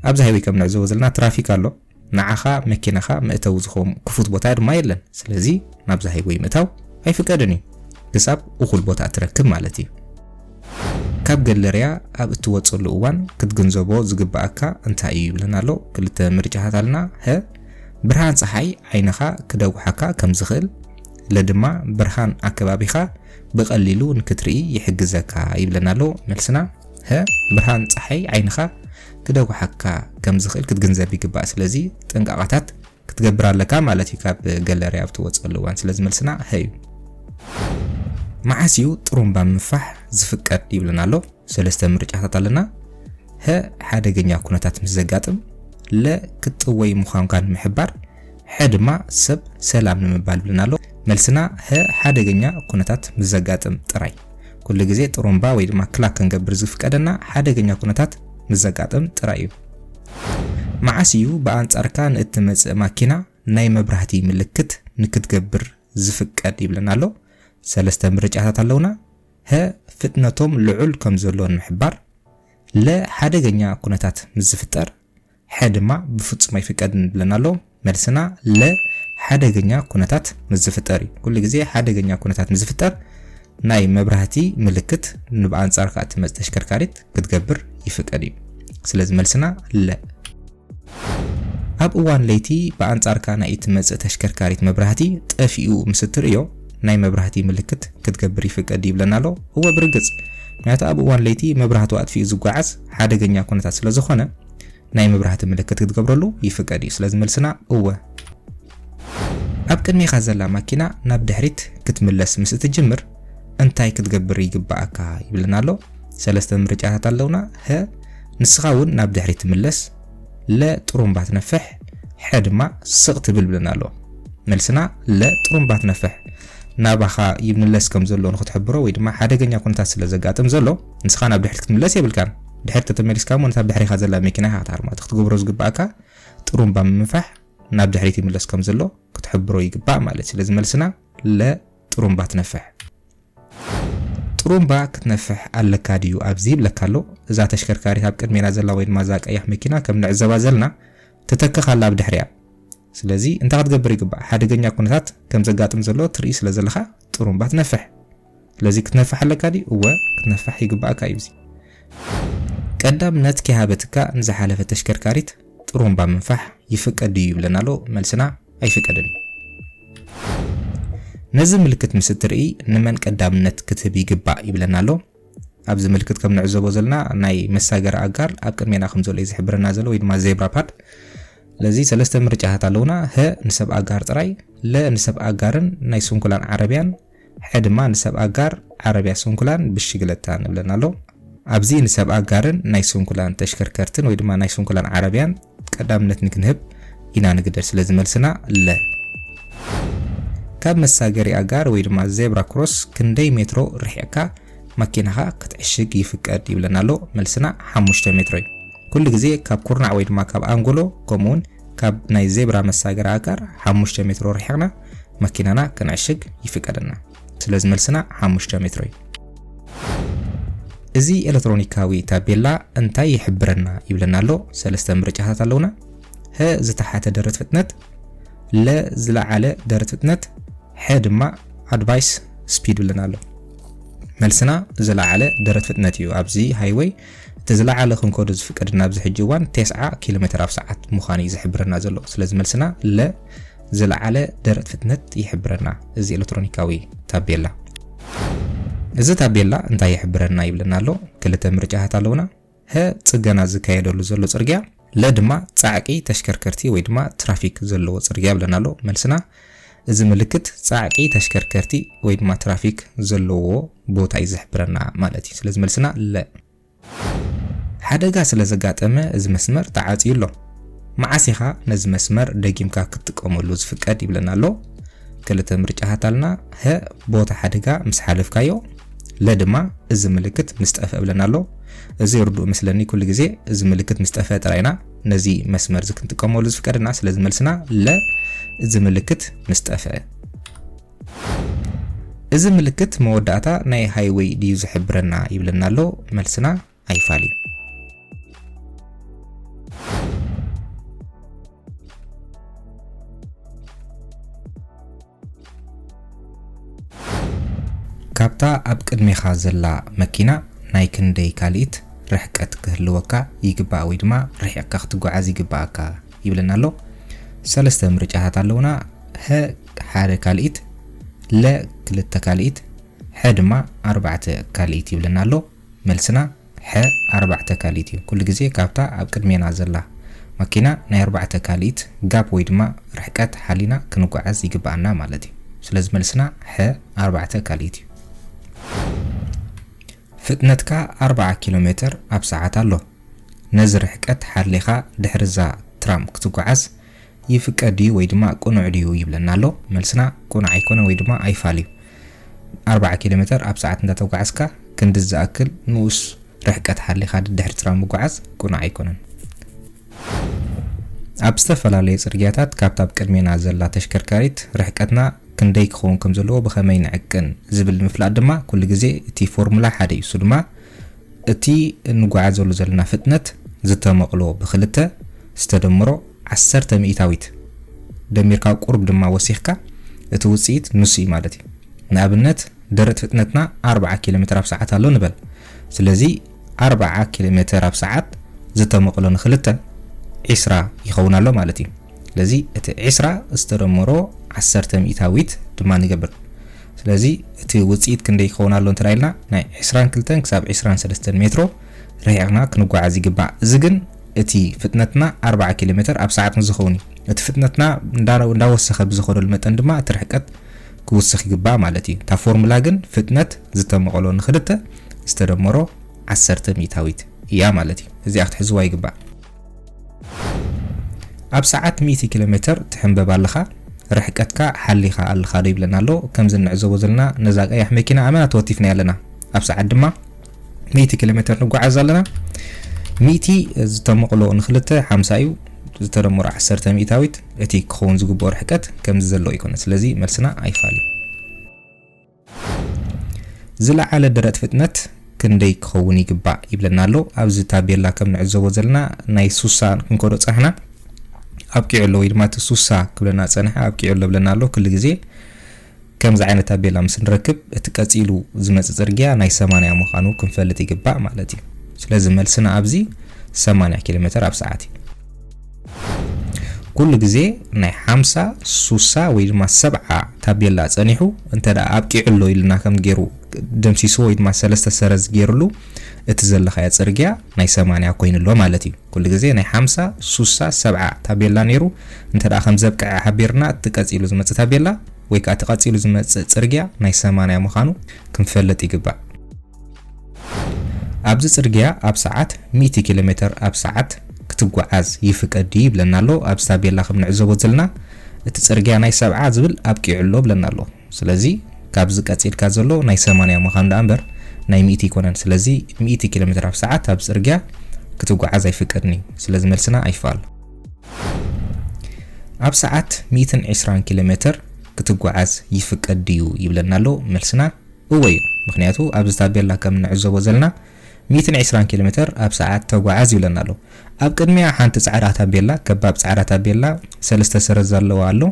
ኣብዚ ሃይወይ ከም ንዕዘቦ ዘለና ትራፊክ ኣሎ ንዓኻ መኪናኻ መእተዊ ዝኸውን ክፉት ቦታ ድማ የለን ስለዚ ናብዚ ሃይወይ ምእታው ኣይፍቀድን እዩ ክሳብ እኹል ቦታ እትረክብ ማለት እዩ ካብ ገለርያ ኣብ እትወጸሉ እዋን ክትግንዘቦ ዝግበኣካ እንታይ እዩ ይብለና ኣሎ። ክልተ ምርጫታት ኣልና፣ ሀ። ብርሃን ጸሓይ ዓይንኻ ክደጉሓካ ከም ዝኽእል፣ ለ። ድማ ብርሃን ኣከባቢኻ ብቐሊሉ ንክትርኢ ይሕግዘካ ይብለና ኣሎ። መልስና፣ ሀ። ብርሃን ጸሓይ ዓይንኻ ክደጉሓካ ከም ዝኽእል ክትግንዘብ ይግባእ። ስለዚ ጥንቃቐታት። ክትገብር ኣለካ ማለት እዩ ካብ ገለርያ ኣብ ትወጸሉ እዋን ስለዚ መልስና ሀ እዩ። መዓስ እዩ ጥሩምባ ምንፋሕ ዝፍቀድ ይብለና ኣሎ ሰለስተ ምርጫታት ኣለና ሀ ሓደገኛ ኩነታት ምስ ዘጋጥም ለ ክትጥወይ ምዃንካ ንምሕባር ሐ ድማ ሰብ ሰላም ንምባል ይብለና ኣሎ መልስና ሀ ሓደገኛ ኩነታት ምስ ዘጋጥም ጥራይ ኩሉ ግዜ ጥሩምባ ወይ ድማ ክላክ ክንገብር ዝፍቀደና ሓደገኛ ኩነታት ምስ ዘጋጥም ጥራይ እዩ። መዓስ እዩ ብኣንጻርካ ንእትመጽእ ማኪና ናይ መብራህቲ ምልክት ንክትገብር ዝፍቀድ ይብለና ኣሎ። ሰለስተ ምርጫታት ኣለውና። ሀ ፍጥነቶም ልዑል ከም ዘሎ ንምሕባር፣ ለ ሓደገኛ ኩነታት ምስ ዝፍጠር፣ ሐ ድማ ብፍጹም ኣይፍቀድን ይብለና ኣሎ። መልስና ለ ሓደገኛ ኩነታት ምስ ዝፍጠር እዩ። ኩሉ ግዜ ሓደገኛ ኩነታት ምስ ዝፍጠር ናይ መብራህቲ ምልክት ንብኣንጻርካ እትመጽእ ተሽከርካሪት ክትገብር ይፍቀድ እዩ። ስለዚ መልስና ለ። ኣብ እዋን ለይቲ ብኣንጻርካ ናይ እትመጽእ ተሽከርካሪት መብራህቲ ጠፊኡ ምስ እትርእዮ ናይ መብራህቲ ምልክት ክትገብር ይፍቀድ ይብለና ኣሎ። እወ ብርግጽ ምክንያቱ ኣብ እዋን ለይቲ መብራህቱ ኣጥፊኡ ዝጓዓዝ ሓደገኛ ኩነታት ስለዝኾነ ናይ ምብራህቲ ምልክት ክትገብረሉ ይፍቀድ እዩ። ስለዚ መልስና እወ። ኣብ ቅድሜኻ ዘላ ማኪና ናብ ድሕሪት ክትምለስ ምስ እትጅምር እንታይ ክትገብር ይግባኣካ ይብለና ኣሎ። ሰለስተ ምርጫታት ኣለውና፣ ሀ ንስኻ እውን ናብ ድሕሪት ትምለስ፣ ለ ጥሩምባ ትነፍሕ፣ ሐ ድማ ስቕ ትብል ብለና ኣሎ። መልስና ለ ጥሩምባ ትነፍሕ ናባኻ ይምለስ ከም ዘሎ ንክትሕብሮ ወይ ድማ ሓደገኛ ኩነታት ስለ ዘጋጥም ዘሎ ንስኻ ናብ ድሕሪት ክትምለስ የብልካን ድሕሪት ተተመሊስካ እሞ ነታ ብድሕሪኻ ዘላ መኪና ኢኻ ክትሃርማ እቲ ክትገብሮ ዝግብኣካ ጥሩምባ ምምፋሕ ናብ ድሕሪት ይምለስ ከም ዘሎ ክትሕብሮ ይግባእ ማለት እዩ ስለዚ መልስና ለ ጥሩምባ ትነፍሕ ጥሩምባ ክትነፍሕ ኣለካ ድዩ ኣብዚ ይብለካ ኣሎ እዛ ተሽከርካሪት ኣብ ቅድሜና ዘላ ወይ ድማ እዛ ቀያሕ መኪና ከም ንዕዘባ ዘለና ትተክኽ ኣላ ኣብ ድሕሪያ ስለዚ እንታይ ክትገብር ይግባእ ሓደገኛ ኩነታት ከም ዘጋጥም ዘሎ ትርኢ ስለ ዘለኻ ጥሩምባ ትነፍሕ ስለዚ ክትነፍሕ ኣለካ ድዩ እወ ክትነፍሕ ይግባኣካ እዩ እዚ ቀዳም ነት ኪሃበትካ ንዝሓለፈ ተሽከርካሪት ጥሩምባ ምንፋሕ ይፍቀድ ድዩ ይብለና ኣሎ መልስና ኣይፍቀድን እዩ ነዚ ምልክት ምስ እትርኢ ንመን ቀዳምነት ክትህብ ይግባእ ይብለና ኣሎ ኣብዚ ምልክት ከም ንዕዘቦ ዘለና ናይ መሳገሪ ኣጋር ኣብ ቅድሜና ከም ዘሎ እዩ ዝሕብረና ዘሎ ወይ ድማ ዜብራ ፓድ ለዚ ሰለስተ ምርጫታት ኣለውና ሀ ንሰብ ኣጋር ጥራይ ለ ንሰብ ኣጋርን ናይ ስንኩላን ዓረብያን ሕነ ድማ ንሰብ ኣጋር ዓረብያ ስንኩላን ብሽግለታ ንብለን ኣሎ። ኣብዚ ንሰብ ኣጋርን ናይ ስንኩላን ተሽከርከርትን ወይ ድማ ናይ ስንኩላን ዓረብያን ቀዳምነት ንክንህብ ኢና ንግደድ ስለዚ መልስና ለ። ካብ መሳገሪ ኣጋር ወይ ድማ ዜብራ ክሮስ ክንደይ ሜትሮ ርሒቕካ ማኪናኻ ክትዕሽግ ይፍቀድ ይብለና ኣሎ መልስና ሓሙሽተ ሜትሮ እዩ። ኩሉ ግዜ ካብ ኩርናዕ ወይ ድማ ካብ ኣንጎሎ ከምኡ ውን ካብ ናይ ዜብራ መሳገሪ ኣጋር ሓሙሽተ ሜትሮ ርሒቕና መኪናና ክንዕሽግ ይፍቀደና። ስለዚ መልስና ሓሙሽተ ሜትሮ እዩ። እዚ ኤሌክትሮኒካዊ ታቤላ እንታይ ይሕብረና ይብለና ኣሎ። ሰለስተ ምርጫታት ኣለውና። ሀ ዝተሓተ ደረት ፍጥነት፣ ለ ዝለዓለ ደረት ፍጥነት፣ ሐ ድማ ኣድቫይስ ስፒድ ብለና ኣሎ። መልስና ዝለዓለ ደረት ፍጥነት እዩ። ኣብዚ ሃይወይ እቲ ዝለዓለ ክንከዶ ዝፍቀድና ኣብዚ ሕጂ እዋን 90 ኪሎ ሜትር ኣብ ሰዓት ምዃኑ እዩ ዝሕብረና ዘሎ። ስለዚ መልስና ለ ዝለዓለ ደረት ፍጥነት ይሕብረና እዚ ኤለትሮኒካዊ ታቤላ። እዚ ታቤላ እንታይ ይሕብረና ይብለና ኣሎ? ክልተ ምርጫታት ኣለዉና፣ ሀ ጽገና ዝካየደሉ ዘሎ ጽርግያ፣ ለ ድማ ጻዕቂ ተሽከርከርቲ ወይ ድማ ትራፊክ ዘለዎ ጽርግያ ይብለና ኣሎ። መልስና እዚ ምልክት ጻዕቂ ተሽከርከርቲ ወይ ድማ ትራፊክ ዘለዎ ቦታ እዩ ዝሕብረና ማለት እዩ። ስለዚ መልስና ለ። ሓደጋ ስለ ዘጋጠመ እዚ መስመር ተዓጽዩ ኣሎ። መዓስ ኢኻ ነዚ መስመር ደጊምካ ክትጥቀመሉ ዝፍቀድ ይብለና ኣሎ። ክልተ ምርጫታት ኣልና፣ ሀ ቦታ ሓደጋ ምስ ሓለፍካዮ፣ ለ ድማ እዚ ምልክት ምስ ጠፍአ ብለና ኣሎ። እዚ ርዱእ መስለኒ ኩሉ ግዜ እዚ ምልክት ምስ ጠፍአ ጥራይ ኢና ነዚ መስመር እዚ ክንጥቀመሉ ዝፍቀደና። ስለዚ መልስና ለ እዚ ምልክት ምስ ጠፍአ። እዚ ምልክት መወዳእታ ናይ ሃይወይ ድዩ ዝሕብረና ይብለና ኣሎ መልስና ኣይፋል እዩ። ካብታ ኣብ ቅድሜኻ ዘላ መኪና ናይ ክንደይ ካልኢት ርሕቀት ክህልወካ ይግባእ ወይ ድማ ርሒቕካ ክትጓዓዝ ይግባኣካ ይብለና ኣሎ። ሰለስተ ምርጫታት ኣለውና። ሀ ሓደ ካልኢት፣ ለ ክልተ ካልኢት፣ ሐ ድማ ኣርባዕተ ካልኢት ይብለና ኣሎ። መልስና ሐ ኣርባዕተ ካልኢት እዩ። ኩሉ ግዜ ካብታ ኣብ ቅድሜና ዘላ ማኪና ናይ ኣርባዕተ ካልኢት ጋፕ ወይ ድማ ርሕቀት ሓሊና ክንጓዓዝ ይግበኣና ማለት እዩ። ስለዚ መልስና ሐ ኣርባዕተ ካልኢት እዩ። ፍጥነትካ ኣርባዓ ኪሎ ሜተር ኣብ ሰዓት ኣሎ። ነዚ ርሕቀት ሓሊኻ ድሕሪ እዛ ትራም ክትጓዓዝ ይፍቀድ ድዩ ወይ ድማ ቅኑዕ ድዩ ይብለና ኣሎ። መልስና ቅኑዕ ኣይኮነን ወይ ድማ ኣይፋል እዩ። ኣርብዓ ኪሎ ሜተር ኣብ ሰዓት እንዳተጓዓዝካ ክንድዚ ዝኣክል ንኡስ ርሕቀት ሓሊኻ ደድሕሪ ጽላል ምጉዓዝ ቅኑዕ ኣይኮነን። ኣብ ዝተፈላለዩ ጽርግያታት ካብታ ኣብ ቅድሜና ዘላ ተሽከርካሪት ርሕቀትና ክንደይ ክኸውን ከም ዘለዎ ብኸመይ ንዕቅን ዝብል ንምፍላጥ ድማ ኩሉ ግዜ እቲ ፎርሙላ ሓደ እዩ። እሱ ድማ እቲ እንጓዓዘሉ ዘለና ፍጥነት ዝተመቕሎ ብኽልተ ዝተደምሮ ዓሰርተ ሚኢታዊት ደሚርካ ቁሩብ ድማ ወሲኽካ እቲ ውጽኢት ንሱ እዩ ማለት እዩ። ንኣብነት ደረት ፍጥነትና ኣርብዓ ኪሎሜተር ኣብ ሰዓት ኣሎ ንበል። ስለዚ ኣርብዓ ኪሎሜተር ኣብ ሰዓት ዝተመቕሎ ንኽልተ ዕስራ ይኸውን ኣሎ ማለት እዩ። ስለዚ እቲ ዕስራ ዝተደምሮ ዓሰርተ ሚኢታዊት ድማ ንገብር። ስለዚ እቲ ውጽኢት ክንደይ ይኸውን ኣሎ እንተ ኢልና ናይ ዕስራን ክልተን ክሳብ ዕስራን ሰለስተን ሜትሮ ርሒቕና ክንጓዓዝ ይግባእ። እዚ ግን እቲ ፍጥነትና ኣርብዓ ኪሎ ሜተር ኣብ ሰዓት ምስ ዝኸውን እዩ። እቲ ፍጥነትና እንዳወሰኸ ብዝኸደሉ መጠን ድማ እቲ ርሕቀት ክውስኽ ይግባእ ማለት እዩ። እታ ፎርሙላ ግን ፍጥነት ዝተመቐሎ ንክልተ ዝተደመሮ ዓሰርተ ሚእታዊት እያ ማለት እዩ። እዚኣ ክትሕዝዋ ይግባእ። ኣብ ሰዓት ሚእቲ ኪሎ ሜተር ትሕንበብ ኣለኻ ርሕቀትካ ሓሊኻ ኣለኻ ዶ ይብለና ኣሎ ከምዚ እንዕዘቦ ዘለና ነዛ ቀያሕ መኪና ኣመና ተወቲፍና ኣለና ኣብ ሰዓት ድማ ሚእቲ ኪሎ ሜተር ንጓዓዝ ኣለና ሚእቲ ዝተመቕሎ ንክልተ ሓምሳ እዩ ዝተደመሮ ዓሰርተ ሚእታዊት እቲ ክኸውን ዝግብኦ ርሕቀት ከምዚ ዘሎ ይኮነ ስለዚ መልስና ኣይፋል እዩ ዝለዓለ ደረት ፍጥነት ክንደይ ክኸውን ይግባእ ይብለና ኣሎ። ኣብዚ ታቤላ ከም ንዕዘቦ ዘለና ናይ ሱሳ ክንከዶ ጸናሕና ኣብቂዑ ኣሎ ወይ ድማ እቲ ሱሳ ክብለና ጸንሐ ኣብቂዑ ኣሎ ብለና ኣሎ ክሉ ግዜ ከምዚ ዓይነት ታቤላ ምስ ንረክብ እቲ ቀጺሉ ዝመጽእ ጽርግያ ናይ 80 ምዃኑ ክንፈልጥ ይግባእ ማለት እዩ። ስለዚ መልስና ኣብዚ 80 ኪሎ ሜተር ኣብ ሰዓት እዩ። ኩሉ ግዜ ናይ ሓምሳ፣ ሱሳ ወይ ድማ ሰብዓ ታቤላ ጸኒሑ እንተ ኣብቂዑ ኣሎ ኢሉና ከም ጌሩ ደምሲስዎ ወይ ድማ ሰለስተ ሰረዝ ጌርሉ እቲ ዘለኻዮ ጽርግያ ናይ ሰማንያ ኮይኑ ኣሎ ማለት እዩ። ኩሉ ግዜ ናይ ሓምሳ፣ ሱሳ፣ ሰብዓ ታቤላ ኔሩ እንተ ከም ዘብቅዐ ሓቢርና እቲ ቀጺሉ ዝመጽእ ታቤላ ወይ ከኣ እቲ ቀጺሉ ዝመጽእ ጽርግያ ናይ ሰማንያ ምዃኑ ክንፈልጥ ይግባእ። ኣብዚ ጽርግያ ኣብ ሰዓት ሚእቲ ኪሎ ሜተር ኣብ ሰዓት ክትጓዓዝ ይፍቀድ ድዩ ይብለና ኣሎ ኣብዚ ታቤላ ከም ንዕዘቦ ዘልና እቲ ጽርግያ ናይ ሰብዓ ዝብል ኣብቂዑ ኣሎ ብለና ኣሎ ስለዚ ካብዚ ቀጺልካ ዘሎ ናይ ሰማንያ ምዃኑ ደኣ እምበር ናይ ሚእቲ ኣይኮነን ስለዚ ሚእቲ ኪሎ ሜተር ኣብ ሰዓት ኣብ ጽርግያ ክትጓዓዝ ኣይፍቀድን እዩ ስለዚ መልስና ኣይፋል ኣብ ሰዓት ሚእትን ዕስራን ኪሎ ሜተር ክትጓዓዝ ይፍቀድ ድዩ ይብለና ኣሎ መልስና እወ እዩ ምክንያቱ ኣብዚ ታቤላ ከም እንዕዘቦ ዘለና ሚእትን ዕስራን ኪሎሜተር ኣብ ሰዓት ተጓዓዝ ይብለና ኣሎ ኣብ ቅድሚኣ ሓንቲ ጻዕዳ ታቤላ ከባብ ጻዕዳ ታቤላ ሰለስተ ሰረዝ ዘለዎ ኣሎ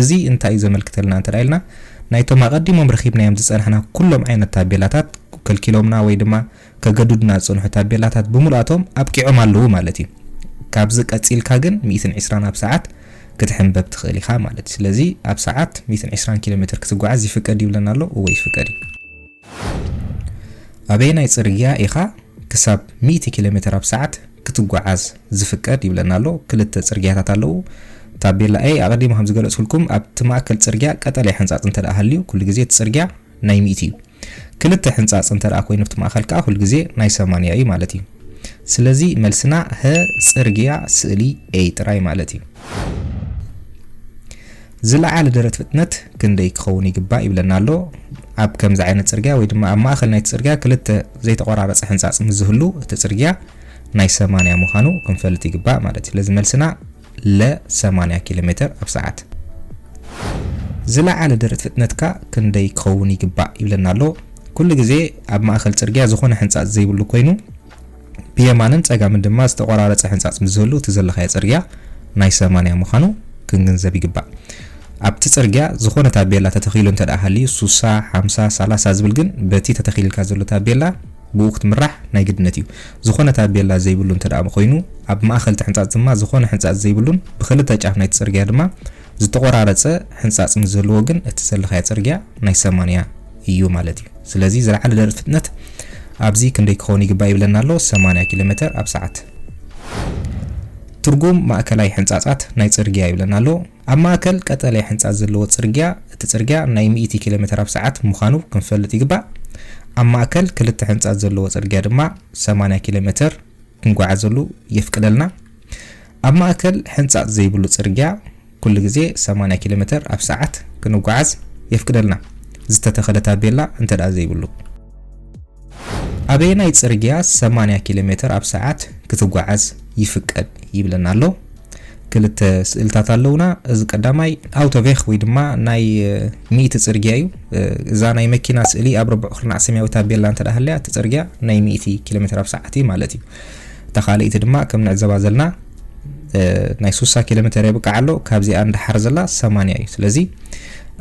እዚ እንታይ እዩ ዘመልክተልና እንተ ኢልና ናይቶም ኣቀዲሞም ረኪብናዮም ዝጸናሕና ኩሎም ዓይነት ታቤላታት ከልኪሎምና ወይ ድማ ከገዱድና ዝጸንሑ ታቤላታት ብምሉኣቶም ኣብቂዖም ኣለዉ ማለት እዩ። ካብዚ ቀጺልካ ግን ሚእትን ዕስራን ኣብ ሰዓት ክትሕንበብ ትኽእል ኢኻ ማለት እዩ። ስለዚ ኣብ ሰዓት ሚእትን ዕስራን ኪሎ ሜትር ክትጓዓዝ ይፍቀድ ይብለና ኣሎ? እወ ይፍቀድ እዩ። ኣበየናይ ጽርግያ ኢኻ ክሳብ ሚእቲ ኪሎ ሜትር ኣብ ሰዓት ክትጓዓዝ ዝፍቀድ ይብለና ኣሎ? ክልተ ጽርግያታት ኣለዉ። ታቤላ A ኣቐዲመ ከም ዝገለጽኩልኩም ኣብቲ ማእከል ጽርግያ ቀጠልያ ሕንጻጽ እንተ ሃልዩ ኩሉ ግዜ እቲ ጽርግያ ናይ ሚእቲ እዩ። ክልተ ሕንጻጽ እንተ ኮይኑ ኣብቲ ማእከል ከኣ ኩሉ ግዜ ናይ ሰማንያ እዩ ማለት እዩ። ስለዚ መልስና ሀ ጽርግያ ስእሊ A ጥራይ ማለት እዩ። ዝለዓለ ደረት ፍጥነት ክንደይ ክኸውን ይግባእ ይብለና ኣሎ። ኣብ ከምዚ ዓይነት ጽርግያ ወይ ድማ ኣብ ማእከል ናይቲ ጽርግያ ክልተ ዘይተቆራረጸ ሕንጻጽ ምስ ዝህሉ እቲ ጽርግያ ናይ ሰማንያ ምዃኑ ክንፈልጥ ይግባእ ማለት እዩ። ስለዚ መልስና ለ ሰማንያ ኪሎ ሜተር ኣብ ሰዓት። ዝለዓለ ደረት ፍጥነትካ ክንደይ ክኸውን ይግባእ ይብለና ኣሎ። ኩሉ ግዜ ኣብ ማእከል ጽርግያ ዝኾነ ሕንጻጽ ዘይብሉ ኮይኑ ብየማንን ጸጋምን ድማ ዝተቖራረጸ ሕንጻጽ ምስ ዝህሉ እቲ ዘለኻዮ ጽርግያ ናይ ሰማንያ ምዃኑ ክንግንዘብ ይግባእ። ኣብቲ ጽርግያ ዝኾነ ታቤላ ተተኺሉ እንተድኣ ሃልዩ ሱሳ፣ ሓምሳ፣ ሳላሳ ዝብል ግን በቲ ተተኺልልካ ዘሎ ታቤላ ብኡ ክትምራሕ ናይ ግድነት እዩ። ዝኾነ ታቤላ ዘይብሉ እንተድኣ ኮይኑ፣ ኣብ ማእኸል እቲ ሕንፃፅ ድማ ዝኾነ ሕንፃፅ ዘይብሉን ብኽልተ ጫፍ ናይቲ ፅርግያ ድማ ዝተቖራረፀ ሕንፃፅ ምስ ዘለዎ ግን እቲ ዘለኻዮ ፅርግያ ናይ ሰማንያ እዩ ማለት እዩ። ስለዚ ዝለዓለ ደረት ፍጥነት ኣብዚ ክንደይ ክኸውን ይግባእ ይብለና ኣሎ፣ ሰማንያ ኪሎ ሜተር ኣብ ሰዓት። ትርጉም ማእከላይ ሕንፃፃት ናይ ፅርግያ ይብለና ኣሎ፣ ኣብ ማእከል ቀጠልያ ሕንጻጽ ዘለዎ ጽርግያ፣ እቲ ጽርግያ ናይ ሚእቲ ኪሎሜተር ኣብ ሰዓት ምዃኑ ክንፈልጥ ይግባእ። ኣብ ማእከል ክልተ ሕንጻጽ ዘለዎ ጽርግያ ድማ ሰማንያ ኪሎሜተር ክንጓዓዘሉ የፍቅደልና። ኣብ ማእከል ሕንጻጽ ዘይብሉ ጽርግያ ኩሉ ግዜ ሰማንያ ኪሎሜተር ኣብ ሰዓት ክንጓዓዝ የፍቅደልና፣ ዝተተኸለ ታቤላ እንተድኣ ዘይብሉ። ኣበየናይ ጽርግያ ሰማንያ ኪሎ ሜተር ኣብ ሰዓት ክትጓዓዝ ይፍቀድ ይብለና ኣሎ። ክልተ ስእልታት ኣለውና። እዚ ቀዳማይ ኣውቶቬክ ወይ ድማ ናይ ሚእቲ ጽርግያ እዩ። እዛ ናይ መኪና ስእሊ ኣብ ርቡዕ ኩርናዕ ሰማያዊ ታቤላ እንተ ሃልያ እቲ ጽርግያ ናይ ሚእቲ ኪሎ ሜተር ኣብ ሰዓት እዩ ማለት እዩ። እታ ካልኣይቲ ድማ ከም ንዕዘባ ዘለና ናይ ሱሳ ኪሎ ሜተር የብቅዕ ኣሎ ካብዚኣ ንደሓር ዘላ ሰማንያ እዩ ስለዚ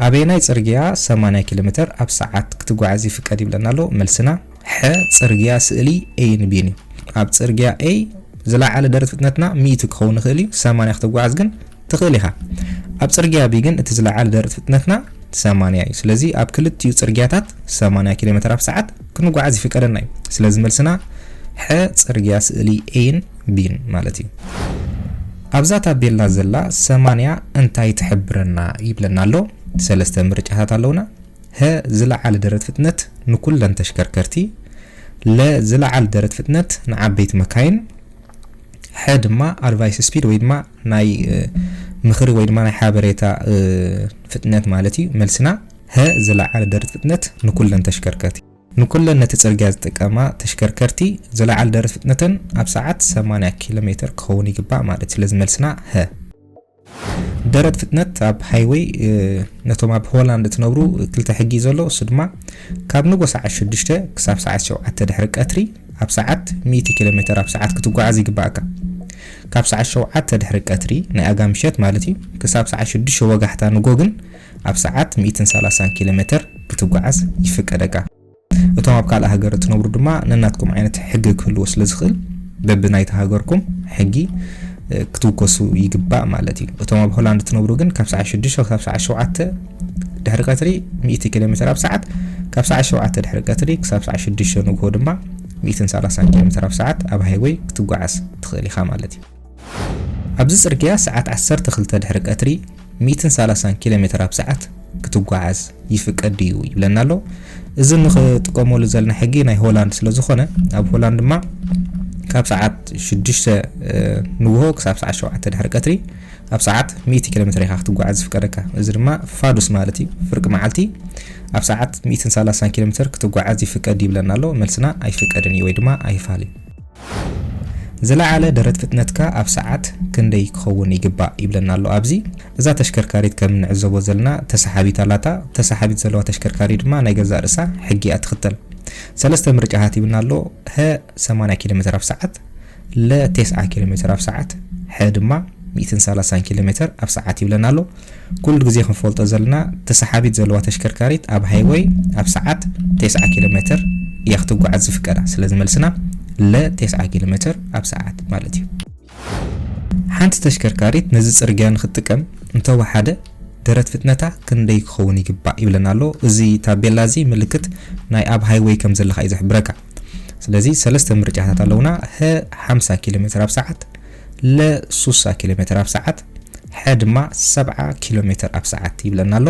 ኣበየናይ ጽርግያ ሰማንያ ኪሎ ሜተር ኣብ ሰዓት ክትጓዓዝ ይፍቀድ ይብለና ኣሎ መልስና ሐ ጽርግያ ስእሊ ኤይን ቢን እዩ ኣብ ጽርግያ ኤይ ዝለዓለ ደረት ፍጥነትና ሚእቲ ክኸውን ይኽእል እዩ ሰማንያ ክትጓዓዝ ግን ትኽእል ኢኻ ኣብ ጽርግያ ብ ግን እቲ ዝለዓለ ደርት ፍጥነትና ሰማንያ እዩ ስለዚ ኣብ ክልቲኡ ጽርግያታት ሰማንያ ኪሎ ሜተር ኣብ ሰዓት ክንጓዓዝ ይፍቀደና እዩ ስለዚ መልስና ሐ ጽርግያ ስእሊ ኤይን ቢን ማለት እዩ ኣብዛ ታቤላ ዘላ ሰማንያ እንታይ ትሕብረና ይብለና ኣሎ ሰለስተ ምርጫታት ኣለውና ሀ ዝለዓለ ደረት ፍጥነት ንኩለን ተሽከርከርቲ ለ ዝለዓለ ደረት ፍጥነት ንዓበይቲ መካይን ሐ ድማ ኣድቫይስ ስፒድ ወይ ድማ ናይ ምኽሪ ወይ ድማ ናይ ሓበሬታ ፍጥነት ማለት እዩ። መልስና ሀ ዝለዓለ ደረት ፍጥነት ንኩለን ተሽከርከርቲ። ንኩለን ነቲ ጽርግያ ዝጥቀማ ተሽከርከርቲ ዝለዓለ ደረት ፍጥነተን ኣብ ሰዓት ሰማንያ ኪሎ ሜተር ክኸውን ይግባእ ማለት እዩ። ስለዚ መልስና ሀ። ደረት ፍጥነት ኣብ ሃይወይ ነቶም ኣብ ሆላንድ እትነብሩ ክልተ ሕጊ እዩ ዘሎ እሱ ድማ ካብ ንጎ ሰዓት ሽዱሽተ ክሳብ ሰዓት ሸውዓተ ድሕሪ ቀትሪ ኣብ ሰዓት ሚእቲ ኪሎ ሜተር ኣብ ሰዓት ክትጓዓዝ ይግበኣካ። ካብ ሰዓት ሸውዓተ ድሕሪ ቀትሪ፣ ናይ ኣጋ ምሸት ማለት እዩ፣ ክሳብ ሰዓት ሽዱሽተ ወጋሕታ ንጎ ግን ኣብ ሰዓት ሚእትን ሰላሳን ኪሎ ሜተር ክትጓዓዝ ይፍቀደካ። እቶም ኣብ ካልእ ሃገር እትነብሩ ድማ ነናትኩም ዓይነት ሕጊ ክህልዎ ስለ ዝኽእል በቢ ናይቲ ሃገርኩም ሕጊ ክትውከሱ ይግባእ ማለት እዩ። እቶም ኣብ ሆላንድ እትነብሩ ግን ካብ ሰዓት ሽዱሽተ ክሳብ ሰዓት ሸውዓተ ድሕሪ ቀትሪ ሚእቲ ኪሎ ሜትር ኣብ ሰዓት ካብ ሰዓት ሸውዓተ ድሕሪ ቀትሪ ክሳብ ሰዓት ሽዱሽተ ንግሆ ድማ ሚእትን ሰላሳን ኪሎ ሜትር ኣብ ሰዓት ኣብ ሃይወይ ክትጓዓዝ ትኽእል ኢኻ ማለት እዩ። ኣብዚ ጽርግያ ሰዓት ዓሰርተ ክልተ ድሕሪ ቀትሪ ሚእትን ሰላሳን ኪሎ ሜትር ኣብ ሰዓት ክትጓዓዝ ይፍቀድ ድዩ ይብለና ኣሎ። እዚ ንክጥቀመሉ ዘለና ሕጊ ናይ ሆላንድ ስለ ዝኾነ ኣብ ሆላንድ ድማ ካብ ሰዓት ሽዱሽተ ንግሆ ክሳብ ሰዓት ሸውዓተ ድሕሪ ቀትሪ ኣብ ሰዓት ሚእቲ ኪሎሜተር ኢኻ ክትጓዓዝ ዝፍቀደካ፣ እዚ ድማ ፋዱስ ማለት እዩ፣ ፍርቂ መዓልቲ ኣብ ሰዓት ሚእትን ሰላሳን ኪሎሜተር ክትጓዓዝ ይፍቀድ ድዩ ይብለና ኣሎ፣ መልስና ኣይፍቀድን እዩ ወይ ድማ ኣይፋል እዩ። ዝለዓለ ደረት ፍጥነትካ ኣብ ሰዓት ክንደይ ክኸውን ይግባእ ይብለና ኣሎ ኣብዚ። እዛ ተሽከርካሪት ከም እንዕዘቦ ዘለና ተሰሓቢት ኣላታ፣ ተሰሓቢት ዘለዋ ተሽከርካሪ ድማ ናይ ገዛእ ርእሳ ሕጊ እያ ትኽተል። ሰለስተ ምርጫታት ሂብና ኣሎ፣ ሀ ሰማንያ ኪሎሜተር ኣብ ሰዓት፣ ለ ቴስዓ ኪሎ ሜተር ኣብ ሰዓት፣ ሐ ድማ ሚእትን ሰላሳን ኪሎ ሜተር ኣብ ሰዓት ይብለና ኣሎ። ኩሉ ግዜ ክንፈልጦ ዘለና ተሰሓቢት ዘለዋ ተሽከርካሪት ኣብ ሃይወይ ኣብ ሰዓት ቴስዓ ኪሎ ሜተር እያ ክትጓዓዝ ዝፍቀዳ። ስለዚ መልስና ለ ቴስዓ ኪሎ ሜተር ኣብ ሰዓት ማለት እዩ። ሓንቲ ተሽከርካሪት ነዚ ጽርግያ ንክትጥቀም እንተወሓደ ደረት ፍጥነታ ክንደይ ክኸውን ይግባእ ይብለና ኣሎ። እዚ ታቤላ እዚ ምልክት ናይ ኣብ ሃይወይ ከም ዘለኻ እዩ ዝሕብረካ። ስለዚ ሰለስተ ምርጫታት ኣለውና ሀ 50 ኪሎ ሜትር ኣብ ሰዓት ለ 60 ኪሎ ሜትር ኣብ ሰዓት ሐ ድማ 70 ኪሎ ሜትር ኣብ ሰዓት ይብለና ኣሎ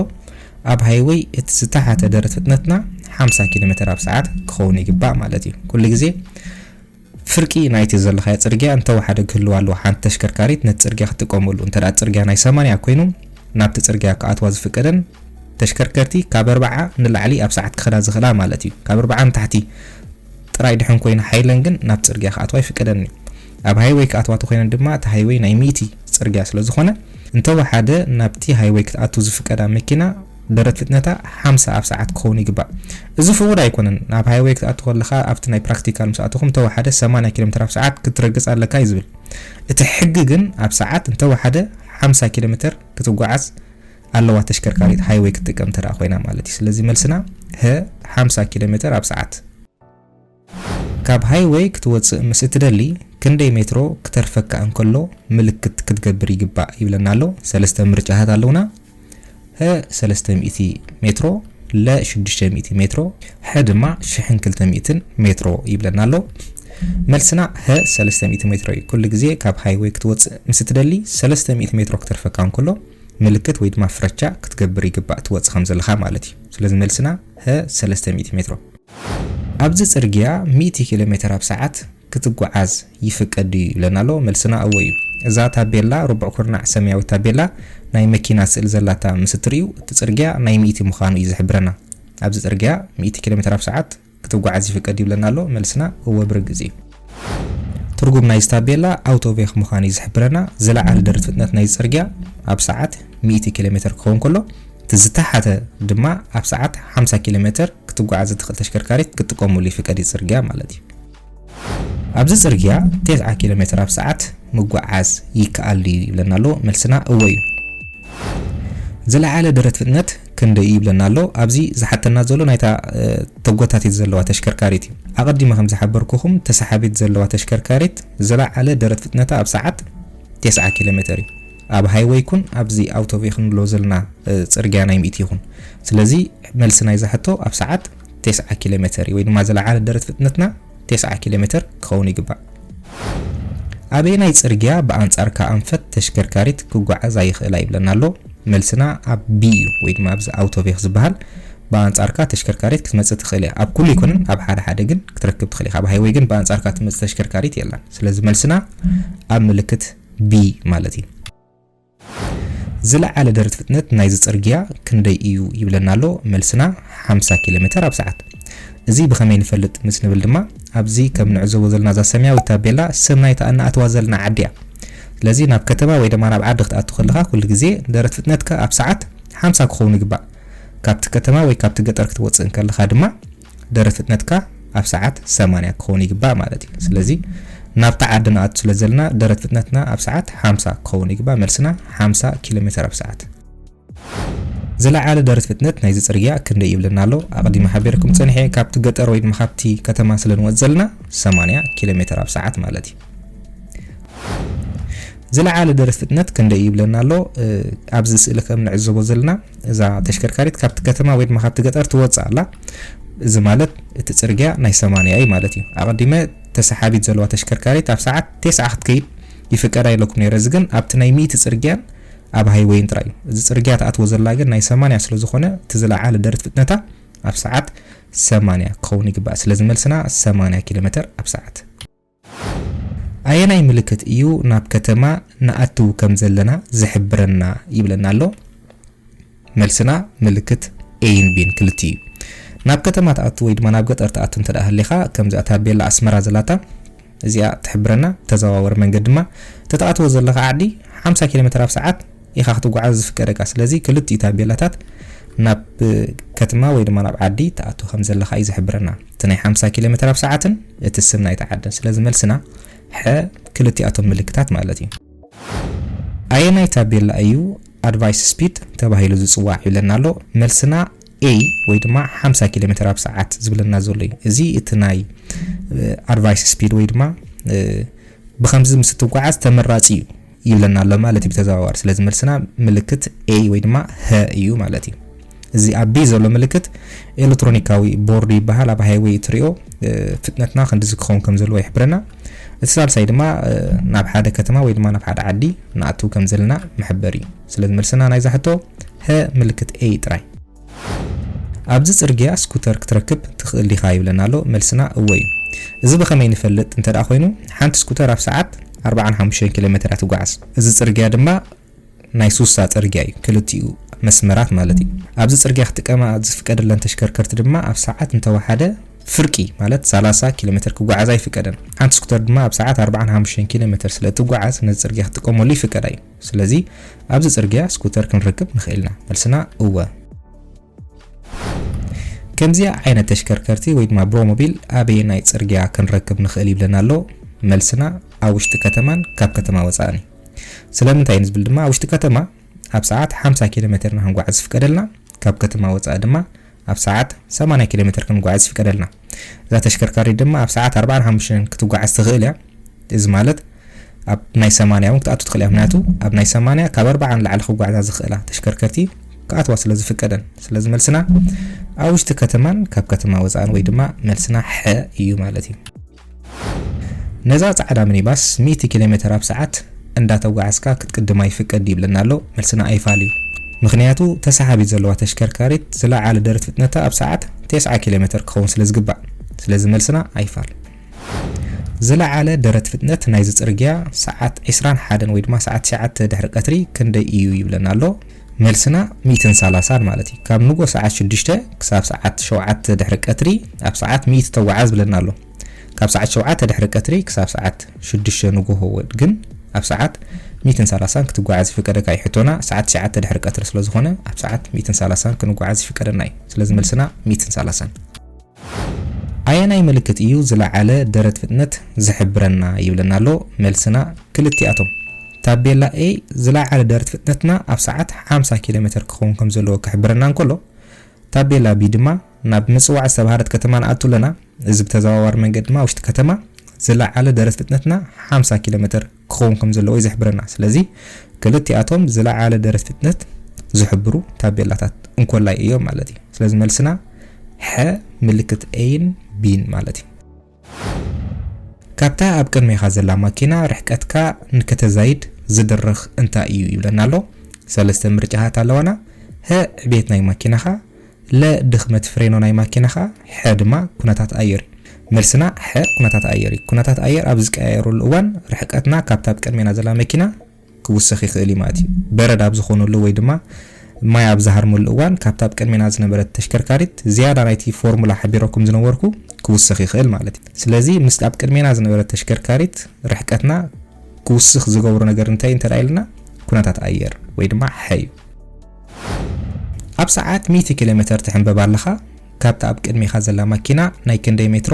ኣብ ሃይወይ እቲ ዝተሓተ ደረት ፍጥነትና 50 ኪሎ ሜትር ኣብ ሰዓት ክኸውን ይግባእ ማለት እዩ ኩሉ ግዜ ፍርቂ ናይቲ ዘለኻዮ ፅርግያ እንተወሓደ ክህልዋ ኣለዎ ሓንቲ ተሽከርካሪት ነቲ ፅርግያ ክትጥቀመሉ እንተ ፅርግያ ናይ ሰማንያ ኮይኑ ናብቲ ፅርግያ ክኣትዋ ዝፍቀደን ተሽከርከርቲ ካብ ኣርብዓ ንላዕሊ ኣብ ሰዓት ክኸዳ ዝኽእላ ማለት እዩ። ካብ ኣርብዓ ንታሕቲ ጥራይ ድሐን ኮይና ሓይለን ግን ናብ ጽርግያ ክኣትዋ ኣይፍቀደን እዩ። ኣብ ሃይወይ ክኣትዋ ተኾይነን ድማ እቲ ሃይወይ ናይ ሚእቲ ጽርግያ ስለ ዝኾነ እንተወሓደ ናብቲ ሃይወይ ክትኣቱ ዝፍቀዳ መኪና ደረት ፍጥነታ ሓምሳ ኣብ ሰዓት ክኸውን ይግባእ። እዚ ፍቑድ ኣይኮነን። ኣብ ሃይወይ ክትኣቱ ከለኻ ኣብቲ ናይ ፕራክቲካል ምስ ኣተኹም እንተወሓደ ሰማንያ ኪሎ ሜትር ኣብ ሰዓት ክትረግጽ ኣለካ እዩ ዝብል። እቲ ሕጊ ግን ኣብ ሰዓት እንተወሓደ ሓምሳ ኪሎ ሜትር ክትጓዓዝ ኣለዋ ተሽከርካሪት ሃይወይ ክትጥቀም እንተደኣ ኮይና ማለት እዩ። ስለዚ መልስና ሀ ሓምሳ ኪሎ ሜተር ኣብ ሰዓት። ካብ ሃይወይ ክትወጽእ ምስ እትደሊ ክንደይ ሜትሮ ክተርፈካ እንከሎ ምልክት ክትገብር ይግባእ ይብለና ኣሎ። ሰለስተ ምርጫታት ኣለውና። ሀ ሰለስተ ሚእቲ ሜትሮ፣ ለ ሽዱሽተ ሚእቲ ሜትሮ፣ ሐ ድማ ሽሕን ክልተ ሚእትን ሜትሮ ይብለና ኣሎ። መልስና ሀ ሰለስተ ሚእቲ ሜትሮ እዩ። ኩሉ ግዜ ካብ ሃይወይ ክትወጽእ ምስ እትደሊ ሰለስተ ሚእቲ ሜትሮ ክተርፈካ እንከሎ ምልክት ወይ ድማ ፍረቻ ክትገብር ይግባእ ትወጽእ ከም ዘለኻ ማለት እዩ። ስለዚ መልስና ሀ ሰለስተ ሚእቲ ሜትሮ። ኣብዚ ጽርግያ ሚእቲ ኪሎ ሜተር ኣብ ሰዓት ክትጉዓዝ ይፍቀድ ድዩ ይብለና ኣሎ። መልስና እወ እዩ። እዛ ታቤላ ርቡዕ ኩርናዕ ሰማያዊት ታቤላ ናይ መኪና ስእሊ ዘላታ ምስ እትርእዩ እቲ ጽርግያ ናይ ሚእቲ ምዃኑ እዩ ዝሕብረና። ኣብዚ ጽርግያ ሚእቲ ኪሎ ሜተር ኣብ ሰዓት ክትጓዓዝ ይፍቀድ ይብለና ኣሎ? መልስና እወ ብርግጽ እዩ። ትርጉም ናይዚ ታቤላ ኣውቶቬክ ምዃኑ እዩ ዝሕብረና። ዝለዓለ ደረት ፍጥነት ናይዚ ጽርግያ ኣብ ሰዓት ሚእቲ ኪሎ ሜተር ክኸውን ከሎ፣ እቲ ዝተሓተ ድማ ኣብ ሰዓት ሓምሳ ኪሎ ሜተር ክትጓዓዝ እትኽእል ተሽከርካሪት ክትጥቀመሉ ይፍቀድ እዩ፣ ጽርግያ ማለት እዩ። ኣብዚ ጽርግያ ቴስዓ ኪሎ ሜትር ኣብ ሰዓት ምጉዓዝ ይከኣል ድዩ ይብለና ኣሎ፣ መልስና እወ እዩ። ዝለዓለ ደረት ፍጥነት ክንደይ እዩ ይብለና ኣሎ፣ ኣብዚ ዝሓተና ዘሎ ናይታ ተጎታቲት ዘለዋ ተሽከርካሪት እዩ። ኣቐዲመ ከም ዝሓበርኩኹም ተሰሓቢት ዘለዋ ተሽከርካሪት ዝለዓለ ደረት ፍጥነታ ኣብ ሰዓት ቴስዓ ኪሎ ሜትር እዩ። ኣብ ሃይወይ ኩን ኣብዚ ኣውቶቬ ክንብሎ ዘለና ጽርግያ ናይ ሚእቲ ይኹን። ስለዚ መልሲ ናይዛ ሕቶ ኣብ ሰዓት ቴስዓ ኪሎሜተር እዩ ወይ ድማ ዝለዓለ ደረት ፍጥነትና ቴስዓ ኪሎሜተር ክኸውን ይግባእ። ኣበየናይ ጽርግያ ብኣንጻርካ ኣንፈት ተሽከርካሪት ክጓዓዛ ይኽእላ ይብለና ኣሎ። መልስና ኣብ ቢ እዩ ወይ ድማ ኣብዚ ኣውቶቬክ ዝበሃል ብኣንጻርካ ተሽከርካሪት ክትመጽእ ትኽእል እያ። ኣብ ኩሉ ይኩንን ኣብ ሓደ ሓደ ግን ክትረክብ ትኽእል ኢኻ። ኣብ ሃይወይ ግን ብኣንጻርካ ትመጽእ ተሽከርካሪት የላን። ስለዚ መልስና ኣብ ምልክት ቢ ማለት እዩ። ዝለዓለ ደረት ፍጥነት ናይዚ ጽርግያ ክንደይ እዩ ይብለና ኣሎ መልስና ሓምሳ ኪሎ ሜተር ኣብ ሰዓት እዚ ብኸመይ ንፈልጥ ምስ ንብል ድማ ኣብዚ ከም ንዕዘቦ ዘለና እዛ ሰማያዊት ታቤላ ስም ናይታ እናኣተዋ ዘለና ዓዲ እያ ስለዚ ናብ ከተማ ወይ ድማ ናብ ዓዲ ክትኣቱ ከለኻ ኩሉ ግዜ ደረት ፍጥነትካ ኣብ ሰዓት ሓምሳ ክኸውን ይግባእ ካብቲ ከተማ ወይ ካብቲ ገጠር ክትወጽእ እንከለኻ ድማ ደረ ፍጥነትካ ኣብ ሰዓት ሰማንያ ክኸውን ይግባእ ማለት እዩ ስለዚ ናብታ ዓዲ ንኣቱ ስለ ዘለና ደረት ፍጥነትና ኣብ ሰዓት ሓምሳ ክኸውን ይግባእ መልስና ሓምሳ ኪሎ ሜተር ኣብ ሰዓት ዝለዓለ ደረት ፍጥነት ናይዚ ፅርግያ ክንደይ ይብለና ኣሎ ኣቐዲመ ሓቢርኩም ፀኒሐ ካብቲ ገጠር ወይ ድማ ካብቲ ከተማ ስለ ንወፅ ዘለና 80 ኪሎ ሜትር ኣብ ሰዓት ማለት እዩ ዝለዓለ ደረስነት ክንደይ ይብለና ኣሎ ኣብዚ ስእሊ ከም ንዕዘቦ ዘለና እዛ ተሽከርካሪት ካብቲ ከተማ ወይ ድማ ካብቲ ገጠር ትወፅእ ኣላ እዚ ማለት እቲ ፅርግያ ናይ ሰማንያ እዩ ማለት እዩ ኣቐዲመ ተሰሓቢት ዘለዋ ተሽከርካሪት ኣብ ሰዓት ቴስዓ ክትከይድ ይፍቀዳ ኢለኩም ነይረ እዚ ግን ኣብቲ ናይ ሚእቲ ፅርግያን ኣብ ሃይወይን ጥራይ እዩ እዚ ፅርግያ ትኣትዎ ዘላ ግን ናይ ሰማንያ ስለ ዝኾነ እቲ ዝለዓለ ደረት ፍጥነታ ኣብ ሰዓት ሰማንያ ክኸውን ይግባእ ስለዚ መልስና ሰማንያ ኪሎ ሜተር ኣብ ሰዓት ኣየናይ ምልክት እዩ ናብ ከተማ ንኣትው ከም ዘለና ዝሕብረና ይብለና ኣሎ። መልስና ምልክት A ን B ን ክልቲኡ እዩ። ናብ ከተማ ትኣቱ ወይ ድማ ናብ ገጠር ትኣቱ እንተ ደኣ ሃሊኻ ከምዚኣ ታቤላ ኣስመራ ዘላታ እዚኣ ትሕብረና። ተዘዋወሪ መንገድ ድማ ተትኣትዎ ዘለኻ ዓዲ ሓምሳ ኪሎሜተር ኣብ ሰዓት ኢኻ ክትጓዓዝ ዝፍቀደካ። ስለዚ ክልቲኡ ታቤላታት ናብ ከትማ ወይ ድማ ናብ ዓዲ ትኣቱ ከም ዘለኻ እዩ ዝሕብረና። እቲ ናይ ሓምሳ ኪሎ ሜተር ኣብ ሰዓትን እቲ ስም ናይታ ዓድን። ስለዚ መልስና ሐ ክልቲኣቶም ምልክታት ማለት እዩ። ኣየናይ ታቤላ እዩ ኣድቫይስ ስፒድ ተባሂሉ ዝጽዋዕ ይብለና ኣሎ። መልስና A ወይ ድማ ሓምሳ ኪሎ ሜተር ኣብ ሰዓት ዝብለና ዘሎ እዩ። እዚ እቲ ናይ ኣድቫይስ ስፒድ ወይ ድማ ብከምዚ ምስ እትጓዓዝ ተመራጺ እዩ። ይብለና ኣሎ ማለት እዩ ብተዘዋዋሪ። ስለዚ መልስና ምልክት A ወይ ድማ ሀ እዩ ማለት እዩ። እዚ ኣብ ቢ ዘሎ ምልክት ኤሌክትሮኒካዊ ቦርድ ይበሃል። ኣብ ሃይወይ እትሪኦ ፍጥነትና ክንዲዚ ክኸውን ከም ዘለዎ ይሕብረና። እቲ ሳልሳይ ድማ ናብ ሓደ ከተማ ወይ ድማ ናብ ሓደ ዓዲ ንኣትው ከም ዘለና መሕበሪ እዩ። ስለዚ መልስና ናይዛ ሕቶ ሀ ምልክት A ጥራይ። ኣብዚ ጽርግያ ስኩተር ክትረክብ ትኽእል ዲኻ ይብለና ኣሎ፣ መልስና እወ እዩ። እዚ ብኸመይ ንፈልጥ እንተ ኾይኑ፣ ሓንቲ ስኩተር ኣብ ሰዓት ኣርባዓን ሓሙሽተን ኪሎ ሜተር እያ ትጓዓዝ። እዚ ጽርግያ ድማ ናይ ሱሳ ጽርግያ እዩ፣ ክልቲኡ መስመራት ማለት እዩ። ኣብዚ ጽርግያ ክጥቀማ ዝፍቀደለን ተሽከርከርቲ ድማ ኣብ ሰዓት እንተ ወሓደ ፍርቂ ማለት ሰላሳ ኪሎ ሜተር ክጓዓዛ ኣይፍቀደን። ሓንቲ ስኩተር ድማ ኣብ ሰዓት ኣርባዓን ሓሙሽተን ኪሎ ሜተር ስለ እትጓዓዝ ነዚ ጽርግያ ክትጥቀመሉ ይፍቀዳ እዩ። ስለዚ ኣብዚ ጽርግያ ስኩተር ክንረክብ ንኽእልና? መልስና እወ። ከምዚኣ ዓይነት ተሽከርከርቲ ወይ ድማ ብሮሞቢል ኣበየናይ ጽርግያ ክንረክብ ንኽእል ይብለና ኣሎ? መልስና ኣብ ውሽጢ ከተማን ካብ ከተማ ወጻእን እዩ። ስለምንታይ ንዝብል ድማ ኣብ ውሽጢ ከተማ ኣብ ሰዓት ሓምሳ ኪሎሜተር ኢና ክንጓዓዝ ዝፍቀደልና፣ ካብ ከተማ ወጻኢ ድማ ኣብ ሰዓት ሰማንያ ኪሎ ሜተር ክንጓዓዝ ይፍቀደልና። እዛ ተሽከርካሪት ድማ ኣብ ሰዓት ኣርባዓን ሓሙሽተን ክትጓዓዝ ትኽእል እያ። እዚ ማለት ኣብ ናይ ሰማንያ እውን ክትኣቱ ትኽእል እያ። ምክንያቱ ኣብ ናይ ሰማንያ ካብ ኣርባዓ ንላዕሊ ክጓዓዛ ዝኽእላ ተሽከርከርቲ ክኣትዋ ስለ ዝፍቀደን። ስለዚ መልስና ኣብ ውሽጢ ከተማን ካብ ከተማ ወፃእን ወይ ድማ መልስና ሐ እዩ ማለት እዩ። ነዛ ጻዕዳ ምኒባስ ሚእቲ ኪሎሜተር ኣብ ሰዓት እንዳተጓዓዝካ ክትቅድማ ይፍቀድ ይብለና ኣሎ መልስና ኣይፋል እዩ ምኽንያቱ ተሳሓቢት ዘለዋ ተሽከርካሪት ዝለዓለ ደረት ፍጥነታ ኣብ ሰዓት ቴስዓ ኪሎሜተር ክኸውን ስለ ዝግባእ ስለዚ መልስና ኣይፋል ዝለዓለ ደረት ፍጥነት ናይዚ ጽርግያ ሰዓት ዕስራን ሓደን ወይ ድማ ሰዓት ትሽዓተ ድሕሪ ቀትሪ ክንደይ እዩ ይብለና ኣሎ መልስና ሚእትን ሳላሳን ማለት እዩ ካብ ንጎ ሰዓት ሽዱሽተ ክሳብ ሰዓት ሸውዓተ ድሕሪ ቀትሪ ኣብ ሰዓት ሚእቲ ተጓዓዝ ብለና ኣሎ ካብ ሰዓት ሸውዓተ ድሕሪ ቀትሪ ክሳብ ሰዓት ሽዱሽተ ንጎሆ ግን ኣብ ሰዓት ሚእትን ሳላሳን ክትጓዓዝ ይፍቀደካ እዩ ሕቶና ሰዓት ትሽዓተ ድሕሪ ቀትሪ ስለዝኾነ ኣብ ሰዓት ሚእትን ሳላሳን ክንጓዓዝ ይፍቀደና እዩ ስለዚ መልስና ሚእትን ሳላሳን ኣየናይ ምልክት እዩ ዝለዓለ ደረት ፍጥነት ዝሕብረና ይብለና ኣሎ መልስና ክልቲኣቶም። ታቤላ A ዝለዓለ ደረት ፍጥነትና ኣብ ሰዓት ሓምሳ ኪሎ ሜተር ክኸውን ከም ዘለዎ ክሕብረና እንከሎ ታቤላ B ድማ ናብ ምጽዋዕ ዝተባህለት ከተማ ንኣቱ ኣለና እዚ ብተዘዋዋሪ መንገዲ ድማ ኣብ ውሽጢ ከተማ ዝለዓለ ደረት ፍጥነትና ሓምሳ ኪሎ ሜተር ክኸውን ከም ዘለዎ እዩ ዝሕብረና። ስለዚ ክልቲኣቶም ዝለዓለ ደረት ፍጥነት ዝሕብሩ ታቤላታት እንኮላይ እዮም ማለት እዩ። ስለዚ መልስና ሐ ምልክት A ን B ን ማለት እዩ። ካብታ ኣብ ቅድሜኻ ዘላ ማኪና ርሕቀትካ ንከተዛይድ ዝድርኽ እንታይ እዩ ይብለና ኣሎ። ሰለስተ ምርጫታት ኣለዋና፣ ሀ ዕቤት ናይ ማኪናኻ፣ ለ ድኽመት ፍሬኖ ናይ ማኪናኻ። ሐ ድማ ኩነታት ኣየር እዩ። መልስና ሐ ኩነታት ኣየር እዩ። ኩነታት ኣየር ኣብ ዝቀያየረሉ እዋን ርሕቀትና ካብታ ኣብ ቅድሜና ዘላ መኪና ክውሰኽ ይኽእል እዩ ማለት እዩ። በረድ ኣብ ዝኾነሉ ወይ ድማ ማይ ኣብ ዝሃርመሉ እዋን ካብታ ኣብ ቅድሜና ዝነበረት ተሽከርካሪት ዝያዳ ናይቲ ፎርሙላ ሓቢረኩም ዝነበርኩ ክውሰኽ ይኽእል ማለት እዩ። ስለዚ ምስታ ኣብ ቅድሜና ዝነበረት ተሽከርካሪት ርሕቀትና ክውስኽ ዝገብሮ ነገር እንታይ እዩ እንተድኣ ኢልና ኩነታት ኣየር ወይ ድማ ሐ እዩ። ኣብ ሰዓት ሚእቲ ኪሎሜተር ትሕንበብ ኣለኻ፣ ካብታ ኣብ ቅድሜኻ ዘላ ማኪና ናይ ክንደይ ሜትሮ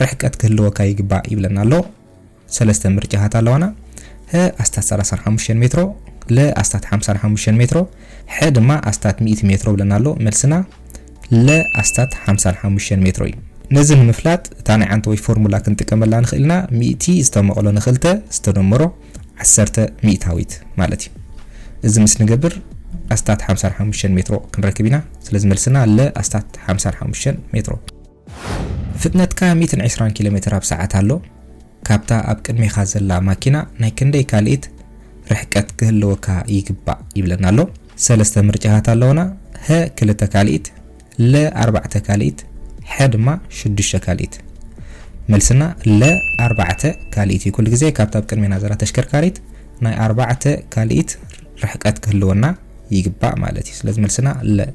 ርሕቀት ክህልወካ ይግባእ ይብለና ኣሎ። ሰለስተ ምርጫታት ኣለዋና፣ ህ ኣስታት ሰላሳን ሓሙሽተን ሜትሮ፣ ለ ኣስታት ሓምሳን ሓሙሽተን ሜትሮ፣ ሐ ድማ ኣስታት ሚእቲ ሜትሮ ብለና ኣሎ። መልስና ለ ኣስታት ሓምሳን ሓሙሽተን ሜትሮ እዩ። ነዚ ንምፍላጥ እታ ናይ ዓንተወይ ፎርሙላ ክንጥቀመላ ንኽእል ኢና፣ ሚእቲ ዝተመቕሎ ንኽልተ ዝተደመሮ ዓሰርተ ሚእታዊት ማለት እዩ እዚ ምስ ንገብር ኣስታት ሓምሳን ሓሙሽተን ሜትሮ ክንረክብ ኢና ስለዚ መልስና ለ ኣስታት ሓምሳን ሓሙሽተን ሜትሮ። ፍጥነትካ ሚእትን ዕስራን ኪሎ ሜትር ኣብ ሰዓት ኣሎ ካብታ ኣብ ቅድሜኻ ዘላ ማኪና ናይ ክንደይ ካልኢት ርሕቀት ክህልወካ ይግባእ ይብለና ኣሎ። ሰለስተ ምርጫታት ኣለውና፣ ሀ ክልተ ካልኢት፣ ለ ኣርባዕተ ካልኢት ሐ ድማ ሽዱሽተ ካልኢት መልስና ለ ኣርባዕተ ካልኢት እዩ ኩሉ ግዜ ካብታ ኣብ ቅድሜና ዘላ ተሽከርካሪት ናይ ኣርባዕተ ካልኢት ርሕቀት ክህልወና ይግባእ ማለት እዩ ስለዚ መልስና ለ